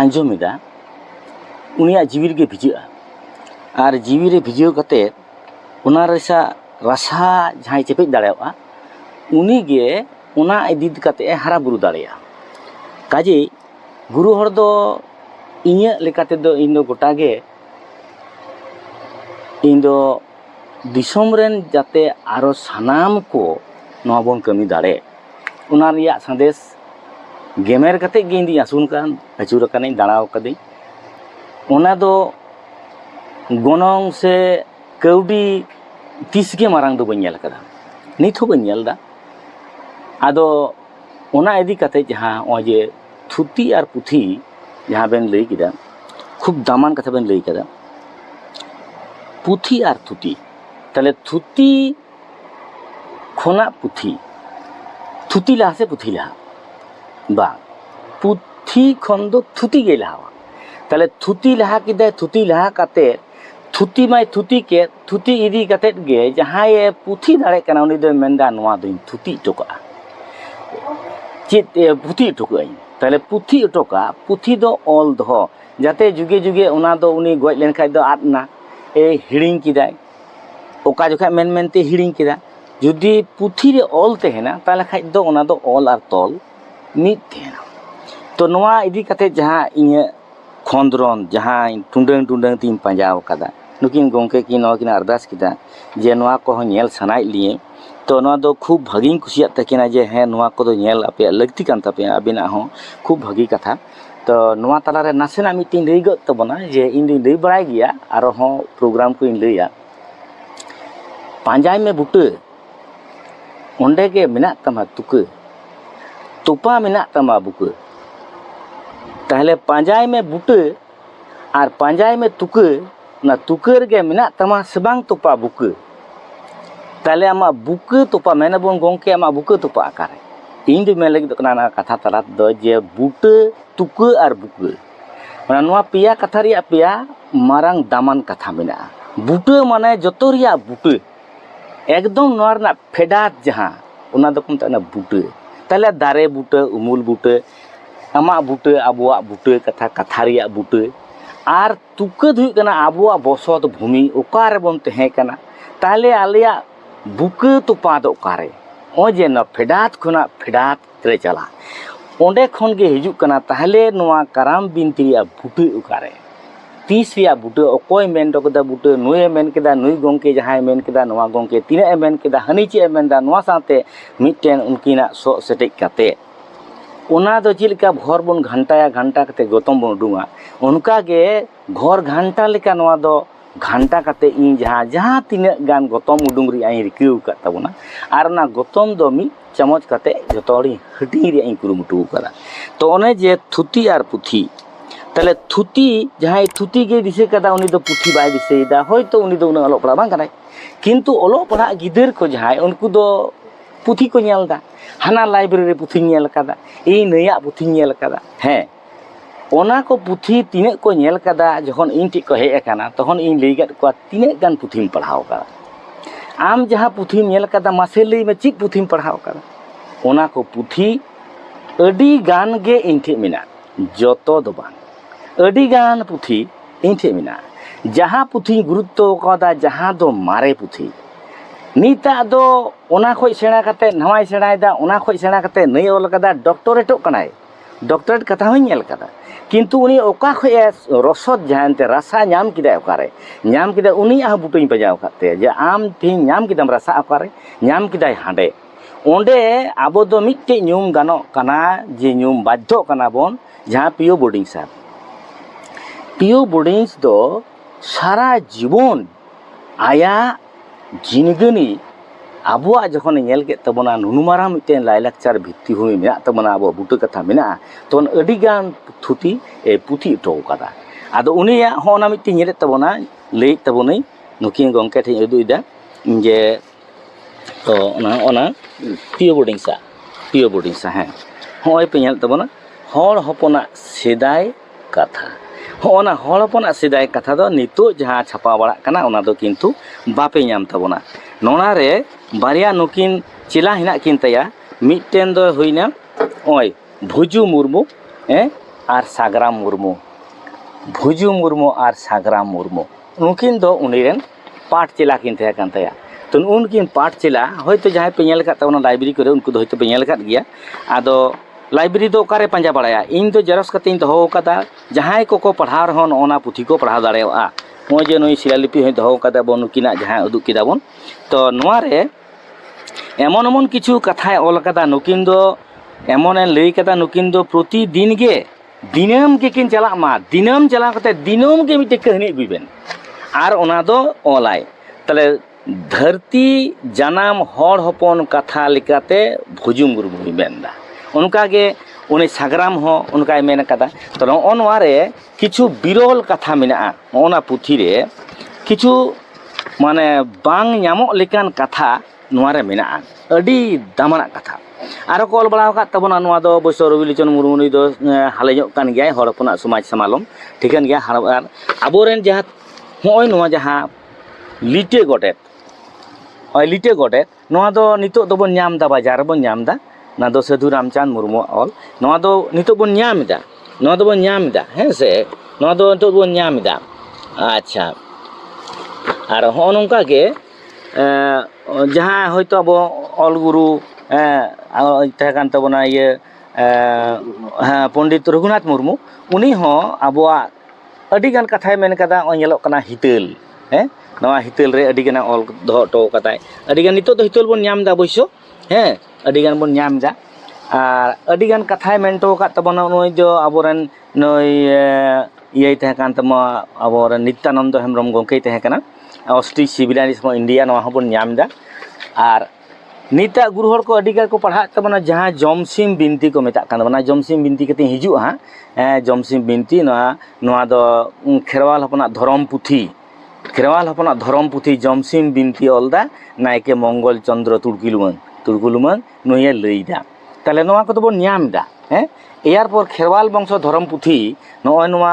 ᱟᱸᱡᱚᱢ ᱮᱫᱟ ᱩᱱᱤᱭᱟᱜ ᱡᱤᱣᱤ ᱨᱮᱜᱮ ᱵᱷᱤᱡᱟᱹᱜᱼᱟ ᱟᱨ ᱡᱤᱣᱤ ᱨᱮ ᱵᱷᱤᱡᱟᱹᱣ ᱠᱟᱛᱮ ᱚᱱᱟ ᱨᱮᱭᱟᱜ ᱨᱟᱥᱟ ᱡᱟᱦᱟᱸᱭ ᱪᱮᱯᱮᱡ ᱫᱟᱲᱮᱭᱟᱜᱼᱟ ᱩᱱᱤ ᱜᱮ ᱚᱱᱟ ᱤᱫᱤ ᱠᱟᱛᱮ ᱮ ᱦᱟᱨᱟᱼᱵᱩᱨᱩ ᱫᱟᱲᱮᱭᱟᱜᱼᱟ ᱠᱟᱡᱮᱭ ᱜᱩᱨᱩ ᱦᱚᱲ ᱫᱚ ᱤᱧᱟᱹᱜ ᱞᱮᱠᱟ ᱛᱮᱫᱚ ᱤᱧ ᱫᱚ ᱜᱚᱴᱟ ᱜᱮ ᱤᱧ ᱫᱚ ᱫᱤᱥᱚᱢ ᱨᱮᱱ ᱡᱟᱛᱮ ᱟᱨᱚ ᱥᱟᱱᱟᱢ ᱠᱚ ᱱᱚᱣᱟ ᱵᱚᱱ ᱠᱟᱹᱢᱤ ᱫᱟᱲᱮᱜ ᱚᱱᱟ ᱨᱮᱭᱟᱜ ᱥᱟᱸᱫᱮᱥ ᱜᱮᱢᱮᱨ ᱠᱟᱛᱮ ᱜᱮ ᱤᱧ ᱫᱩᱧ ᱟᱹᱥᱩᱞ ᱠᱟᱱ ᱟᱹᱪᱩᱨ ᱠᱟᱱᱟᱹᱧ ᱫᱟᱬᱟ ᱠᱟᱹᱫᱟᱹᱧ ᱚᱱᱟ ᱫᱚ ᱜᱚᱱᱚᱝ ᱥᱮ ᱠᱟᱹᱣᱰᱤ ᱛᱤᱥ ᱜᱮ ᱢᱟᱨᱟᱝ ᱫᱚ ᱵᱟᱹᱧ ᱧᱮᱞ ᱠᱟᱫᱟ ᱱᱤᱛ ᱦᱚᱸ ᱵᱟᱹᱧ ᱧᱮᱞ ᱫᱟ ᱟᱫᱚ ᱚᱱᱟ ᱤᱫᱤ ᱠᱟᱛᱮ ᱡᱟᱦᱟᱸ ᱱᱚᱜᱼᱚᱭ ᱡᱮ ᱛᱷᱩᱛᱤ ᱟᱨ ᱯᱩᱛᱷᱤ ᱡᱟᱦᱟᱸ ᱵᱮᱱ ᱞᱟᱹᱭ ᱠᱮᱫᱟ ᱠᱷᱩᱵ ᱫᱟᱢᱟᱱ ᱠᱟᱛᱷᱟ ᱵᱮᱱ ᱞᱟᱹᱭ ᱠᱟᱫᱟ ᱯᱩᱛᱷᱤ ᱟᱨ ᱛᱷᱩᱛᱤ ᱛᱟᱦᱚᱞᱮ ᱛᱷᱩᱛᱤ ᱠᱷᱚᱱᱟᱜ ᱯᱩᱛᱷᱤ ᱛᱷᱩᱛᱤ ᱞᱟᱦᱟ ᱥᱮ ᱯᱩᱛᱷᱤ ᱞᱟᱦᱟ ᱵᱟᱝ ᱯᱩᱛᱷᱤ ᱠᱷᱚᱱ ᱫᱚ ᱛᱷᱩᱛᱤ ᱜᱮ ᱞᱟᱦᱟᱣᱟ ᱛᱟᱦᱚᱞᱮ ᱛᱷᱩᱛᱤ ᱞᱟᱦᱟ ᱠᱮᱫᱟᱭ ᱛᱷᱩᱛᱤ ᱞᱟᱦᱟ ᱠᱟᱛᱮ ᱛᱷᱩᱛᱤ ᱢᱟᱭ ᱛᱷᱩᱛᱤ ᱠᱮᱫ ᱛᱷᱩᱛᱤ ᱤᱫᱤ ᱠᱟᱛᱮ ᱜᱮ ᱡᱟᱦᱟᱸᱭᱮ ᱯᱩᱛᱷᱤ ᱫᱟᱲᱮᱜ ᱠᱟᱱᱟ ᱩᱱᱤ ᱫᱚᱭ ᱢᱮᱱᱫᱟ ᱱᱚᱣᱟ ᱫᱩᱧ ᱛᱷᱩᱛᱤ ᱦᱚᱴᱚ ᱠᱟᱜᱼᱟ ᱪᱮᱫ ᱯᱩᱛᱷᱤ ᱦᱚᱴᱚ ᱠᱟᱜ ᱟᱹᱧ ᱛᱟᱦᱚᱞᱮ ᱯᱩᱛᱷᱤ ᱦᱚᱴᱚ ᱠᱟᱜ ᱯᱩᱛᱷᱤ ᱫᱚ ᱚᱞ ᱫᱚᱦᱚ ᱡᱟᱛᱮ ᱡᱩᱜᱮ ᱡᱩᱜᱮ ᱚᱱᱟ ᱫᱚ ᱩᱱᱤ ᱜᱚᱡ ᱞᱮᱱᱠᱷᱟᱱ ᱫᱚ ᱟᱫ ᱮᱱᱟ ᱮᱭ ᱦᱤᱲᱤᱧ ᱠᱮᱫᱟᱭ ᱚᱠᱟ ᱡᱚᱠᱷᱟᱡ ᱢᱮᱱ ᱢᱮᱱᱛᱮ ᱦᱤᱲᱤᱧ ᱠᱮᱫᱟ ᱡᱩᱫᱤ ᱯᱩᱛᱷᱤ ᱨᱮ ᱚᱞ ᱛᱟᱦᱮᱱᱟ ᱛᱟᱦᱚᱞᱮ ᱠᱷᱟᱡ ᱫᱚ ᱚᱱᱟ ᱫᱚ ᱚᱞ ᱟᱨ ᱛᱚᱞ ᱢᱤᱫ ᱛᱟᱦᱮᱱᱟ ᱛᱚ ᱱᱚᱣᱟ ᱤᱫᱤ ᱠᱟᱛᱮ ᱡᱟᱦᱟᱸ ᱤᱧᱟᱹᱜ ᱠᱷᱚᱸᱫᱽᱨᱚᱱ ᱡᱟᱦᱟᱸ ᱴᱩᱰᱟᱹᱝ ᱴᱩᱰᱟᱹᱝ ᱛᱤᱧ ᱯᱟᱸᱡᱟ ᱟᱠᱟᱫᱟ ᱱᱩᱠᱤᱱ ᱜᱚᱢᱠᱮ ᱠᱤᱱ ᱱᱚᱣᱟ ᱠᱤᱱ ᱟᱨᱫᱟᱥ ᱠᱮᱫᱟ ᱡᱮ ᱱᱚᱣᱟ ᱠᱚᱦᱚᱸ ᱧᱮᱞ ᱥᱟᱱᱟᱭᱮᱫ ᱞᱤᱧᱟᱹ ᱛᱚ ᱱᱚᱣᱟ ᱫᱚ ᱠᱷᱩᱵ ᱵᱷᱟᱹᱜᱤᱧ ᱠᱩᱥᱤᱭᱟᱜ ᱛᱟᱹᱠᱤᱱᱟ ᱡᱮ ᱦᱮᱸ ᱱᱚᱣᱟ ᱠᱚᱫᱚ ᱧᱮᱞ ᱟᱯᱮᱭᱟᱜ ᱞᱟᱹᱠᱛᱤ ᱠᱟᱱ ᱛᱟᱯᱮᱭᱟ ᱟᱵᱮᱱᱟᱜ ᱦᱚᱸ ᱠᱷᱩᱵ ᱵᱷᱟᱹᱜᱤ ᱠᱟᱛᱷᱟ ᱛᱚ ᱱᱚᱣᱟ ᱛᱟᱞᱟᱨᱮ ᱱᱟᱥᱮᱱᱟᱜ ᱢᱤᱫᱴᱤᱧ ᱞᱟᱹᱭ ᱜᱚᱫ ᱛᱟᱵᱚᱱᱟ ᱡᱮ ᱤᱧ ᱫᱩᱧ ᱞᱟᱹᱭ ᱵᱟᱲᱟᱭ ᱜᱮᱭᱟ ᱟᱨᱚ ᱦᱚᱸ ᱯᱨᱳᱜᱨᱟᱢ ᱠᱚᱧ ᱞᱟᱹᱭᱟ ᱯᱟᱸᱡᱟᱭ ᱢᱮ ᱵᱩᱴᱟᱹ ᱚᱸᱰᱮ ᱜᱮ ᱢᱮᱱᱟᱜ ᱛᱟᱢᱟ ᱛᱩᱠᱟᱹ ᱛᱚᱯᱟ ᱢᱮᱱᱟᱜ ᱛᱟᱢᱟ ᱵᱩᱠᱟᱹ ᱛᱟᱦᱚᱞᱮ ᱯᱟᱸᱡᱟᱭ ᱢᱮ ᱵᱩᱴᱟᱹ ᱟᱨ ᱯᱟᱸᱡᱟᱭ ᱢᱮ ᱛᱩᱠᱟᱹ ᱚᱱᱟ ᱛᱩᱠᱟᱹ ᱨᱮᱜᱮ ᱢᱮᱱᱟᱜ ᱛᱟᱢᱟ ᱥᱮ ᱵᱟᱝ ᱛᱚᱯᱟ ᱵᱩᱠᱟᱹ ᱛᱟᱦᱞᱮ ᱟᱢᱟᱜ ᱵᱩᱠᱟᱹ ᱛᱚᱯᱟ ᱢᱮᱱᱟᱵᱚᱱ ᱜᱚᱝᱠᱮ ᱟᱢᱟᱜ ᱵᱩᱠᱟᱹ ᱛᱚᱯᱟ ᱟᱠᱟᱨᱮ ᱤᱧ ᱫᱚ ᱢᱮᱱ ᱞᱟᱹᱜᱤᱫᱚᱜ ᱠᱟᱱᱟ ᱱᱚᱣᱟ ᱠᱟᱛᱷᱟ ᱛᱟᱞᱟ ᱛᱮᱫᱚ ᱡᱮ ᱵᱩᱴᱟᱹ ᱛᱩᱠᱟᱹ ᱟᱨ ᱵᱩᱠᱟᱹ ᱚᱱᱟ ᱱᱚᱣᱟ ᱯᱮᱭᱟ ᱠᱟᱛᱷᱟ ᱨᱮᱭᱟᱜ ᱯᱮᱭᱟ ᱢᱟᱨᱟᱝ ᱫᱟᱢᱟᱱ ᱠᱟᱛᱷᱟ ᱢᱮᱱᱟᱜᱼᱟ ᱵᱩᱴᱟᱹ ᱢᱟᱱᱮ ᱡᱚᱛᱚ ᱨᱮᱭᱟᱜ ᱵᱩᱴᱟᱹ ᱮᱠᱫᱚᱢ ᱱᱚᱣᱟ ᱨᱮᱱᱟᱜ ᱯᱷᱮᱰᱟᱛ ᱡᱟᱦᱟᱸ ᱚᱱᱟ ᱫᱚᱠᱚ ᱢᱮᱛᱟᱜ ᱠᱟᱱᱟ ᱵᱩᱴᱟᱹ ᱛᱟᱦᱞᱮ ᱫᱟᱨᱮ ᱵᱩᱴᱟᱹ ᱩᱢᱩᱞ ᱵᱩᱴᱟᱹ ᱟᱢᱟᱜ ᱵᱩᱴᱟᱹ ᱟᱵᱚᱣᱟᱜ ᱵᱩᱴᱟᱹ ᱠᱟᱛᱷᱟ ᱠᱟᱛᱷᱟ ᱨᱮᱭᱟᱜ ᱵᱩᱴᱟᱹ ᱟᱨ ᱛᱩᱠᱟᱹ ᱫᱚ ᱦᱩᱭᱩᱜ ᱠᱟᱱᱟ ᱟᱵᱚᱣᱟᱜ ᱵᱚᱥᱚᱛ ᱵᱷᱩᱢᱤ ᱚᱠᱟ ᱨᱮᱵᱚᱱ ᱛᱟᱦᱮᱸ ᱠᱟᱱᱟ ᱛᱟᱦᱚᱞᱮ ᱟᱞᱮᱭᱟᱜ ᱵᱩᱠᱟᱹ ᱛᱚᱯᱟ ᱫᱚ ᱚᱠᱟᱨᱮ ᱱᱚᱜᱼᱚᱭ ᱡᱮ ᱱᱚᱣᱟ ᱯᱷᱮᱰᱟᱛ ᱠᱷᱚᱱᱟᱜ ᱯᱷᱮᱰᱟᱛ ᱨᱮ ᱪᱟᱞᱟᱜ ᱚᱸᱰᱮ ᱠᱷᱚᱱ ᱜᱮ ᱦᱤᱡᱩᱜ ᱠᱟᱱᱟ ᱛᱟᱦᱚᱞᱮ ᱱᱚᱣᱟ ᱠᱟᱨᱟᱢ ᱵᱤᱱᱛᱤ ᱨᱮᱭᱟᱜ ᱵᱩᱴᱟᱹ ᱚᱠᱟᱨᱮ ᱛᱤᱥ ᱨᱮᱭᱟᱜ ᱵᱩᱴᱟᱹ ᱚᱠᱚᱭ ᱢᱮᱱ ᱦᱚᱴᱚ ᱠᱟᱫᱟ ᱵᱩᱴᱟᱹ ᱱᱩᱭᱮ ᱢᱮᱱ ᱠᱮᱫᱟ ᱱᱩᱭ ᱜᱚᱢᱠᱮ ᱡᱟᱦᱟᱸᱭ ᱢᱮᱱ ᱠᱮᱫᱟ ᱱᱚᱣᱟ ᱜᱚᱢᱠᱮ ᱛᱤᱱᱟᱹᱜ ᱮ ᱢᱮᱱ ᱠᱮᱫᱟ ᱦᱟᱹᱱᱤ ᱪᱮᱫ ᱮ ᱢᱮᱱᱫᱟ ᱱᱚᱣᱟ ᱥᱟᱶᱛᱮ ᱢᱤᱫᱴᱮᱱ ᱩᱱᱠᱤᱱᱟᱜ ᱥᱚᱜ ᱥᱮᱴᱮᱡ ᱠᱟᱛᱮᱫ ᱚᱱᱟ ᱫᱚ ᱪᱮᱫ ᱞᱮᱠᱟ ᱵᱷᱚᱨ ᱵᱚᱱ ᱜᱷᱟᱱᱴᱟᱭᱟ ᱜᱷᱟᱱᱴᱟ ᱠᱟᱛᱮ ᱜᱚᱛᱚᱢ ᱵᱚᱱ ᱩᱰᱩᱝᱟ ᱚᱱᱠᱟ ᱜᱮ ᱵᱷᱚᱨ ᱜᱷᱟᱱᱴᱟ ᱞᱮᱠᱟ ᱱᱚᱣᱟ ᱫᱚ ᱜᱷᱟᱱᱴᱟ ᱠᱟᱛᱮ ᱤᱧ ᱡᱟᱦᱟᱸ ᱡᱟᱦᱟᱸ ᱛᱤᱱᱟᱹᱜ ᱜᱟᱱ ᱜᱚᱛᱚᱢ ᱩᱰᱩᱝ ᱨᱮᱭᱟᱜ ᱤᱧ ᱨᱤᱠᱟᱹᱣ ᱟᱠᱟᱫ ᱛᱟᱵᱚᱱᱟ ᱟᱨ ᱚᱱᱟ ᱜᱚᱛᱚᱢ ᱫᱚ ᱢᱤᱫ ᱪᱟᱢᱚᱪ ᱠᱟᱛᱮ ᱡᱚᱛᱚ ᱦᱚᱲ ᱤᱧ ᱦᱟᱹᱴᱤᱧ ᱨᱮᱭᱟᱜ ᱤᱧ ᱠᱩᱨᱩᱢᱩᱴᱩ ᱟᱠᱟᱫᱟ ᱛᱚ ᱚᱱᱮ ᱡᱮ ᱛᱷᱩᱛᱤ ᱟᱨ ᱯᱩᱛᱷᱤ ᱛᱟᱦᱞᱮ ᱛᱷᱩᱛᱤ ᱡᱟᱦᱟᱸᱭ ᱛᱷᱩᱛᱤ ᱜᱮᱭ ᱫᱤᱥᱟᱹ ᱠᱟᱫᱟ ᱩᱱᱤ ᱫᱚ ᱯᱩᱛᱷᱤ ᱵᱟᱭ ᱫᱤᱥᱟᱹᱭᱮᱫᱟ ᱦᱳᱭᱛᱳ ᱩᱱᱤ ᱫᱚ ᱩᱱᱟᱹᱜ ᱚᱞᱚᱜ ᱯᱟᱲᱦᱟᱜ ᱵᱟᱝ ᱠᱟᱱᱟᱭ ᱠᱤᱱᱛᱩ ᱚᱞᱚᱜ ᱯᱟᱲᱦᱟᱜ ᱜᱤᱫᱟᱹᱨ ᱠᱚ ᱡᱟᱦᱟᱸᱭ ᱩᱱᱠᱩ ᱫᱚ ᱯᱩᱛᱷᱤ ᱠᱚ ᱧᱮᱞ ᱮᱫᱟ ᱦᱟᱱᱟ ᱞᱟᱭᱵᱨᱮᱨᱤ ᱯᱩᱛᱷᱤᱧ ᱧᱮᱞ ᱠᱟᱫᱟ ᱤᱧ ᱱᱩᱭᱟᱜ ᱯᱩᱛᱷᱤᱧ ᱧᱮᱞ ᱠᱟᱫᱟ ᱦᱮᱸ ᱚᱱᱟ ᱠᱚ ᱯᱩᱛᱷᱤ ᱛᱤᱱᱟᱹᱜ ᱠᱚ ᱧᱮᱞ ᱠᱟᱫᱟ ᱡᱚᱠᱷᱚᱱ ᱤᱧ ᱴᱷᱮᱱ ᱠᱚ ᱦᱮᱡ ᱠᱟᱱᱟ ᱛᱚᱠᱷᱚᱱ ᱤᱧ ᱞᱟᱹᱭ ᱠᱟᱜ ᱠᱚᱣᱟ ᱛᱤᱱᱟᱹᱜ ᱜᱟᱱ ᱯᱩᱛᱷᱤᱢ ᱯᱟᱲᱦᱟᱣ ᱠᱟᱫᱟ ᱟᱢ ᱡᱟᱦᱟᱸ ᱯᱩᱛᱷᱤᱢ ᱧᱮᱞ ᱠᱟᱫᱟ ᱢᱟᱥᱮ ᱞᱟᱹᱭ ᱢᱮ ᱪᱮᱫ ᱯᱩᱛᱷᱤᱢ ᱯᱟᱲᱦᱟᱣ ᱠᱟᱫᱟ ᱚᱱᱟ ᱠᱚ ᱯᱩᱛᱷᱤ ᱟᱹᱰᱤ ᱜᱟᱱ ᱜᱮ ᱤᱧ ᱴᱷᱮᱱ ᱢᱮᱱᱟᱜᱼᱟ ᱡᱚᱛᱚ ᱫᱚ ᱵᱟᱝ ᱟᱹᱰᱤ ᱜᱟᱱ ᱯᱩᱛᱷᱤ ᱤᱧ ᱴᱷᱮᱱ ᱢᱮᱱᱟᱜᱼᱟ ᱡᱟᱦᱟᱸ ᱯᱩᱛᱷᱤᱧ ᱜᱩᱨᱩᱛᱛᱚ ᱠᱟᱣᱫᱟ ᱡᱟᱦᱟᱸ ᱫᱚ ᱢᱟᱨᱮ ᱯᱩᱛᱷᱤ ᱱᱤᱛᱟᱜ ᱫᱚ ᱚᱱᱟ ᱠᱷᱚᱡ ᱥᱮᱬᱟ ᱠᱟᱛᱮ ᱱᱟᱣᱟᱭ ᱥᱮᱬᱟᱭᱮᱫᱟ ᱚᱱᱟ ᱠᱷᱚᱡ ᱥᱮᱬᱟ ᱠᱟᱛᱮ ᱱᱩᱭᱮ ᱚᱞ ᱠᱟᱫᱟ ᱰᱚᱠᱴᱚᱨᱮᱴᱚᱜ ᱠᱟᱱᱟᱭ ᱰᱚᱠᱴᱚᱨᱮᱴ ᱠᱟᱛᱷᱟ ᱦᱚᱸᱧ ᱧᱮᱞ ᱠᱟᱫᱟ ᱠᱤᱱᱛᱩ ᱩᱱᱤ ᱚᱠᱟ ᱠᱷᱚᱡ ᱮ ᱨᱚᱥᱚᱫ ᱡᱟᱦᱟᱸ ᱮᱱᱛᱮ ᱨᱟᱥᱟ ᱧᱟᱢ ᱠᱮᱫᱟᱭ ᱚᱠᱟᱨᱮ ᱧᱟᱢ ᱠᱮᱫᱟᱭ ᱩᱱᱤᱭᱟᱜ ᱦᱚᱸ ᱵᱩᱴᱟᱹᱧ ᱯᱟᱸᱡᱟᱣ ᱠᱟᱫ ᱛᱟᱭᱟ ᱡᱮ ᱟᱢ ᱛᱮᱦᱮᱧ ᱧᱟᱢ ᱠᱮᱫᱟᱢ ᱨᱟᱥᱟ ᱚᱠᱟᱨᱮ ᱧᱟᱢ ᱠᱮᱫᱟᱭ ᱦᱟᱸᱰᱮ ᱚᱸᱰᱮ ᱟᱵᱚ ᱫᱚ ᱢᱤᱫᱴᱮᱡ ᱧᱩᱢ ᱜᱟᱱᱚᱜ ᱠᱟᱱᱟ ᱡᱮ ᱧᱩᱢ ᱵᱟᱫᱽᱫᱷᱚᱜ ᱠᱟᱱᱟ ᱵᱚᱱ ᱡᱟᱦᱟᱸ ᱯᱤᱭᱳ ᱵᱳᱨᱰᱤᱝ ᱥᱟᱨ ᱯᱤᱭᱳ ᱵᱳᱨᱰᱤᱝ ᱫᱚ ᱥᱟᱨᱟ ᱡᱤᱵᱚᱱ ᱟᱭᱟᱜ ᱡᱤᱱᱫᱮᱱᱤ ᱟᱵᱚᱣᱟᱜ ᱡᱚᱠᱷᱚᱱᱮ ᱧᱮᱞ ᱠᱮᱫ ᱛᱟᱵᱚᱱᱟ ᱱᱩᱱ ᱢᱟᱨᱟᱝ ᱢᱤᱫᱴᱮᱱ ᱞᱟᱭᱼᱞᱟᱠᱪᱟᱨ ᱵᱷᱤᱛᱛᱤ ᱵᱷᱩᱢᱤ ᱢᱮᱱᱟᱜ ᱛᱟᱵᱚᱱᱟ ᱟᱵᱚᱣᱟᱜ ᱵᱩᱴᱟᱹ ᱠᱟᱛᱷᱟ ᱢᱮᱱᱟᱜᱼᱟ ᱛᱚᱠᱷᱚᱱ ᱟᱹᱰᱤ ᱜᱟᱱ ᱛᱷᱩᱛᱤ ᱮ ᱯᱩᱛᱷᱤ ᱦᱚᱴᱚ ᱟᱠᱟᱫᱟ ᱟᱫᱚ ᱩᱱᱤᱭᱟᱜ ᱦᱚᱸ ᱚᱱᱟ ᱢᱤᱫᱴᱮᱱ ᱧᱮᱞᱮᱫ ᱛᱟᱵᱚᱱᱟ ᱞᱟᱹᱭᱮᱫ ᱛᱟᱵᱚᱱᱟᱹᱧ ᱱᱩᱠᱤᱱ ᱜᱚᱢᱠᱮ ᱴᱷᱮᱱ ᱤᱧ ᱩᱫᱩᱜ ᱮᱫᱟ ᱡᱮ ᱛᱚ ᱚᱱᱟ ᱚᱱᱟ ᱯᱤᱭᱳ ᱵᱳᱰᱤᱝᱥᱟ ᱯᱤᱭᱳ ᱵᱳᱰᱤᱝᱥᱟ ᱦᱮᱸ ᱦᱚᱸᱜᱼᱚᱭ ᱯᱮ ᱧᱮᱞᱮᱫ ᱛᱟᱵᱚᱱᱟ ᱦᱚᱲ ᱦᱚᱯᱚᱱᱟᱜ ᱥᱮᱫᱟᱭ ᱠᱟᱛᱷᱟ ᱦᱚᱸᱜᱼᱚ ᱱᱟ ᱦᱚᱲ ᱦᱚᱯᱚᱱᱟᱜ ᱥᱮᱫᱟᱭ ᱠᱟᱛᱷᱟ ᱫᱚ ᱱᱤᱛᱚᱜ ᱡᱟᱦᱟᱸ ᱪᱷᱟᱯᱟ ᱵᱟᱲᱟᱜ ᱠᱟᱱᱟ ᱚᱱᱟ ᱫᱚ ᱠᱤᱱᱛᱩ ᱵᱟᱯᱮ ᱧᱟᱢ ᱛᱟᱵᱚᱱᱟ ᱱᱚᱣᱟ ᱨᱮ ᱵᱟᱨᱭᱟ ᱱᱩᱠᱤᱱ ᱪᱮᱞᱟ ᱦᱮᱱᱟᱜ ᱠᱤᱱ ᱛᱟᱭᱟ ᱢᱤᱫᱴᱮᱱ ᱫᱚᱭ ᱦᱩᱭᱱᱟ ᱱᱚᱜᱼᱚᱭ ᱵᱷᱩᱡᱩ ᱢᱩᱨᱢᱩ ᱦᱮᱸ ᱟᱨ ᱥᱟᱜᱽᱨᱟᱢ ᱢᱩᱨᱢᱩ ᱵᱷᱩᱡᱩ ᱢᱩᱨᱢᱩ ᱟᱨ ᱥᱟᱜᱽᱨᱟᱢ ᱢᱩᱨᱢᱩ ᱱᱩᱠᱤᱱ ᱫᱚ ᱩᱱᱤ ᱨᱮᱱ ᱯᱟᱴ ᱪᱮᱞᱟ ᱠᱤᱱ ᱛᱟᱦᱮᱸ ᱠᱟᱱ ᱛᱟᱭᱟ ᱛᱚ ᱩᱱᱠᱤᱱ ᱯᱟᱴ ᱪᱮᱞᱟ ᱦᱚᱭᱛᱳ ᱡᱟᱦᱟᱸᱭ ᱯᱮ ᱧᱮᱞ ᱟᱠᱟᱫ ᱛᱟᱵᱚᱱᱟ ᱞᱟᱭᱵᱨᱮᱨᱤ ᱠᱚᱨᱮ ᱩᱱᱠᱩ ᱫᱚ ᱦᱚᱭᱛᱳ ᱯᱮ ᱧᱮᱞ ᱟᱠᱟᱫ ᱜᱮᱭᱟ ᱟᱫᱚ ᱞᱟᱭᱵᱨᱮᱨᱤ ᱫᱚ ᱚᱠᱟᱨᱮ ᱯᱟᱸᱡᱟ ᱵᱟᱲᱟᱭᱟ ᱤᱧ ᱫᱚ ᱡᱮᱨᱚᱠᱥ ᱠᱟᱛᱮ ᱤᱧ ᱫᱚᱦᱚ ᱟᱠᱟᱫᱟ ᱡᱟᱦᱟᱸᱭ ᱠᱚᱠᱚ ᱯᱟᱲᱦᱟᱣ ᱨᱮᱦᱚᱸ ᱱᱚᱜᱼᱚ ᱱᱟ ᱯᱩᱛᱷᱤ ᱠᱚ ᱯᱟᱲᱦᱟᱣ ᱫᱟᱲᱮᱭᱟᱜᱼᱟ ᱱᱚᱜᱼᱚᱭ ᱡᱮ ᱱᱩᱭ ᱥᱤᱞᱟ ᱞᱤᱯᱤ ᱦᱚᱸᱭ ᱫᱚᱦᱚ ᱟᱠᱟᱫᱟ ᱵᱚᱱ ᱱᱩᱠᱤᱱᱟᱜ ᱡᱟᱦᱟᱸ ᱩᱫᱩᱜ ᱠᱮᱫᱟ ᱵᱚᱱ ᱛᱚ ᱱᱚᱣᱟ ᱨᱮ ᱮᱢᱚᱱ ᱮᱢᱚᱱ ᱠᱤᱪᱷᱩ ᱠᱟᱛᱷᱟᱭ ᱚᱞ ᱟᱠᱟᱫᱟ ᱱᱩᱠᱤᱱ ᱫᱚ ᱮᱢᱚᱱᱮ ᱞᱟᱹᱭ ᱟᱠᱟᱫᱟ ᱱᱩᱠᱤᱱ ᱫᱚ ᱯᱨᱚᱛᱤᱫᱤᱱ ᱜᱮ ᱫᱤᱱᱟᱹᱢ ᱜᱮᱠᱤᱱ ᱪᱟᱞᱟᱜ ᱢᱟ ᱫᱤᱱᱟᱹᱢ ᱪᱟᱞᱟᱣ ᱠᱟᱛᱮ ᱫᱤᱱᱟᱹᱢ ᱜᱮ ᱢᱤᱫᱴᱮᱱ ᱠᱟᱹᱦᱱᱤ ᱟᱹᱜᱩᱭ ᱵᱮᱱ ᱟᱨ ᱚᱱᱟ ᱫᱚ ᱚᱞᱟᱭ ᱛᱟᱦᱚᱞᱮ ᱫᱷᱟᱹᱨᱛᱤ ᱡᱟᱱᱟᱢ ᱦᱚᱲ ᱦᱚᱯᱚᱱ ᱠᱟᱛᱷᱟ ᱞᱮᱠᱟᱛᱮ ᱵᱷᱩᱡᱩ ᱢᱩᱨᱢᱩᱭ ᱢᱮᱱᱫᱟ ᱚᱱᱠᱟ ᱜᱮ ᱩᱱᱤ ᱥᱟᱜᱽᱨᱟᱢ ᱦᱚᱸ ᱚᱱᱠᱟᱭ ᱢᱮᱱ ᱠᱟᱫᱟ ᱛᱚ ᱱᱚᱜᱼᱚ ᱱᱚᱣᱟ ᱨᱮ ᱠᱤᱪᱷᱩ ᱵᱤᱨᱚᱞ ᱠᱟᱛᱷᱟ ᱢᱮᱱᱟᱜᱼᱟ ᱱᱚᱜᱼᱚ ᱱᱟ ᱯᱩᱛᱷᱤ ᱨᱮ ᱠᱤᱪᱷᱩ ᱢᱟᱱᱮ ᱵᱟᱝ ᱧᱟᱢᱚᱜ ᱞᱮᱠᱟᱱ ᱠᱟᱛᱷᱟ ᱱᱚᱣᱟ ᱨᱮ ᱢᱮᱱᱟᱜᱼᱟ ᱟᱹᱰᱤ ᱫᱟᱢᱟᱱᱟᱜ ᱠᱟᱛᱷᱟ ᱟᱨᱚ ᱠᱚ ᱚᱞ ᱵᱟᱲᱟᱣ ᱠᱟᱜ ᱛᱟᱵᱚᱱᱟ ᱱᱚᱣᱟ ᱫᱚ ᱚᱵᱚᱥᱥᱚ ᱨᱚᱵᱤ ᱞᱳᱪᱚᱱ ᱢᱩᱨᱢᱩ ᱱᱩᱭ ᱫᱚ ᱦᱟᱞᱮ ᱧᱚᱜ ᱠᱟᱱ ᱜᱮᱭᱟᱭ ᱦᱚᱲ ᱦᱚᱯᱚᱱᱟᱜ ᱥᱚᱢᱟᱡᱽ ᱥᱟᱢᱟᱞᱚᱢ ᱴᱷᱤᱠᱟᱹᱱ ᱜᱮᱭᱟ ᱟᱨ ᱟᱵᱚ ᱨᱮᱱ ᱡᱟᱦᱟᱸ ᱦᱚᱸᱜᱼᱚᱭ ᱱᱚᱣᱟ ᱡᱟᱦᱟᱸ ᱞᱤᱴᱟᱹ ᱜᱚᱰᱮᱛ ᱦᱚᱸᱜᱼᱚᱭ ᱞᱤᱴᱟᱹ ᱜᱚᱰᱮᱛ ᱱᱚᱣᱟ ᱫᱚ ᱱᱤᱛᱚᱜ ᱫᱚᱵᱚᱱ ᱧᱟᱢᱫᱟ ᱵᱟᱡᱟᱨ ᱨᱮᱵᱚᱱ ᱧᱟᱢᱫᱟ ᱱᱚᱣᱟ ᱫᱚ ᱥᱟᱹᱫᱷᱩ ᱨᱟᱢᱪᱟᱸᱫᱽ ᱢᱩᱨᱢᱩᱣᱟᱜ ᱚᱞ ᱱᱚᱣᱟ ᱫᱚ ᱱᱤᱛᱚᱜ ᱵᱚᱱ ᱧᱟᱢᱫᱟ ᱱᱚᱣᱟ ᱫᱚᱵᱚᱱ ᱧᱟᱢᱫᱟ ᱦᱮᱸ ᱥᱮ ᱱᱚᱣᱟ ᱫᱚ ᱱᱤᱛᱚᱜ ᱵᱚᱱ ᱧᱟᱢᱫᱟ ᱟᱪᱪᱷᱟ ᱟᱨ ᱦᱚᱸᱜᱼᱚ ᱱᱚᱝᱠᱟ ᱜᱮ ᱡᱟᱦᱟᱸ ᱦᱚᱭᱛᱳ ᱟᱵᱚ ᱚᱞ ᱜᱩᱨᱩ ᱛᱟᱦᱮᱸ ᱠᱟᱱ ᱛᱟᱵᱚᱱᱟᱭ ᱤᱭᱟᱹ ᱦᱮᱸ ᱯᱚᱱᱰᱤᱛ ᱨᱟᱹᱜᱷᱩᱱᱟᱛᱷ ᱢᱩᱨᱢᱩ ᱩᱱᱤ ᱦᱚᱸ ᱟᱵᱚᱣᱟᱜ ᱟᱹᱰᱤᱜᱟᱱ ᱠᱟᱛᱷᱟᱭ ᱢᱮᱱ ᱠᱟᱫᱟ ᱱᱚᱜᱼᱚᱭ ᱧᱮᱞᱚᱜ ᱠᱟᱱᱟ ᱦᱤᱛᱟᱹᱞ ᱦᱮᱸ ᱱᱚᱣᱟ ᱦᱤᱛᱟᱹᱞ ᱨᱮ ᱟᱹᱰᱤᱜᱟᱱᱮ ᱚᱞ ᱫᱚᱦᱚ ᱦᱚᱴᱚ ᱠᱟᱫᱟᱭ ᱟᱹᱰᱤᱜᱟᱱ ᱱᱤᱛᱚᱜ ᱫᱚ ᱦᱤᱛᱟᱹᱞ ᱵᱚᱱ ᱧᱟᱢᱫᱟ ᱚᱵᱚᱥᱥᱳᱭ ᱦᱮᱸ ᱟᱹᱰᱤᱜᱟᱱ ᱵᱚᱱ ᱧᱟᱢᱫᱟ ᱟᱨ ᱟᱹᱰᱤᱜᱟᱱ ᱠᱟᱛᱷᱟᱭ ᱢᱮᱱ ᱦᱚᱴᱚ ᱠᱟᱜ ᱛᱟᱵᱚᱱᱟ ᱱᱩᱭ ᱫᱚ ᱟᱵᱚᱨᱮᱱ ᱱᱩᱭ ᱤᱭᱟᱹᱭ ᱛᱟᱦᱮᱸ ᱠᱟᱱ ᱛᱟᱢᱟ ᱟᱵᱚᱨᱮᱱ ᱱᱤᱛᱛᱟᱱᱚᱱᱫᱚ ᱦᱮᱢᱵᱨᱚᱢ ᱜᱚᱢᱠᱮᱭ ᱛᱟᱦᱮᱸ ᱠᱟᱱᱟ ᱚᱥᱴᱤ ᱥᱤᱵᱤᱞᱟᱭᱤᱥ ᱯᱷᱚᱨ ᱤᱱᱰᱤᱭᱟ ᱱᱚᱣᱟ ᱦᱚᱸᱵᱚᱱ ᱧᱟᱢᱫᱟ ᱟᱨ ᱱᱤᱛᱟᱜ ᱜᱩᱨᱩ ᱦᱚᱲ ᱠᱚ ᱟᱹᱰᱤ ᱜᱟᱱ ᱠᱚ ᱯᱟᱲᱦᱟᱣᱮᱫ ᱛᱟᱵᱚᱱᱟ ᱡᱟᱦᱟᱸ ᱡᱚᱢᱥᱤᱢ ᱵᱤᱱᱛᱤ ᱠᱚ ᱢᱮᱛᱟᱜ ᱠᱟᱱ ᱛᱟᱵᱚᱱᱟ ᱡᱚᱢᱥᱤᱢ ᱵᱤᱱᱛᱤ ᱠᱟᱛᱮᱧ ᱦᱤᱡᱩᱜᱼᱟ ᱦᱟᱸᱜ ᱡᱚᱢᱥᱤᱢ ᱵᱤᱱᱛᱤ ᱱᱚᱣᱟ ᱱᱚᱣᱟ ᱫᱚ ᱠᱷᱮᱨᱣᱟᱞ ᱦᱚᱯᱚᱱᱟᱜ ᱫᱷᱚᱨᱚᱢ ᱯᱩᱛᱷᱤ ᱠᱷᱮᱨᱣᱟᱞ ᱦᱚᱯᱚᱱᱟᱜ ᱫᱷᱚᱨᱚᱢ ᱯᱩᱛᱷᱤ ᱡᱚᱢᱥᱤᱢ ᱵᱤᱱᱛᱤ ᱚᱞᱫᱟ ᱱᱟᱭᱠᱮ ᱢᱚᱝᱜᱚᱞ ᱪᱚᱱᱫᱨᱚ ᱛᱩᱲᱠᱤ ᱞᱩᱢᱟᱹᱝ ᱛᱩᱲᱠᱩ ᱞᱩᱢᱟᱹᱝ ᱱᱩᱭᱮ ᱞᱟᱹᱭᱫᱟ ᱛᱟᱦᱚᱞᱮ ᱱᱚᱣᱟ ᱠᱚᱫᱚ ᱵᱚᱱ ᱧᱟᱢ ᱮᱫᱟ ᱦᱮᱸ ᱮᱭᱟᱨᱯᱚᱨ ᱠᱷᱮᱨᱣᱟᱞ ᱵᱚᱝᱥᱚ ᱫᱷᱚᱨᱚᱢ ᱯᱩᱛᱷᱤ ᱱᱚᱜᱼᱚᱭ ᱱᱚᱣᱟ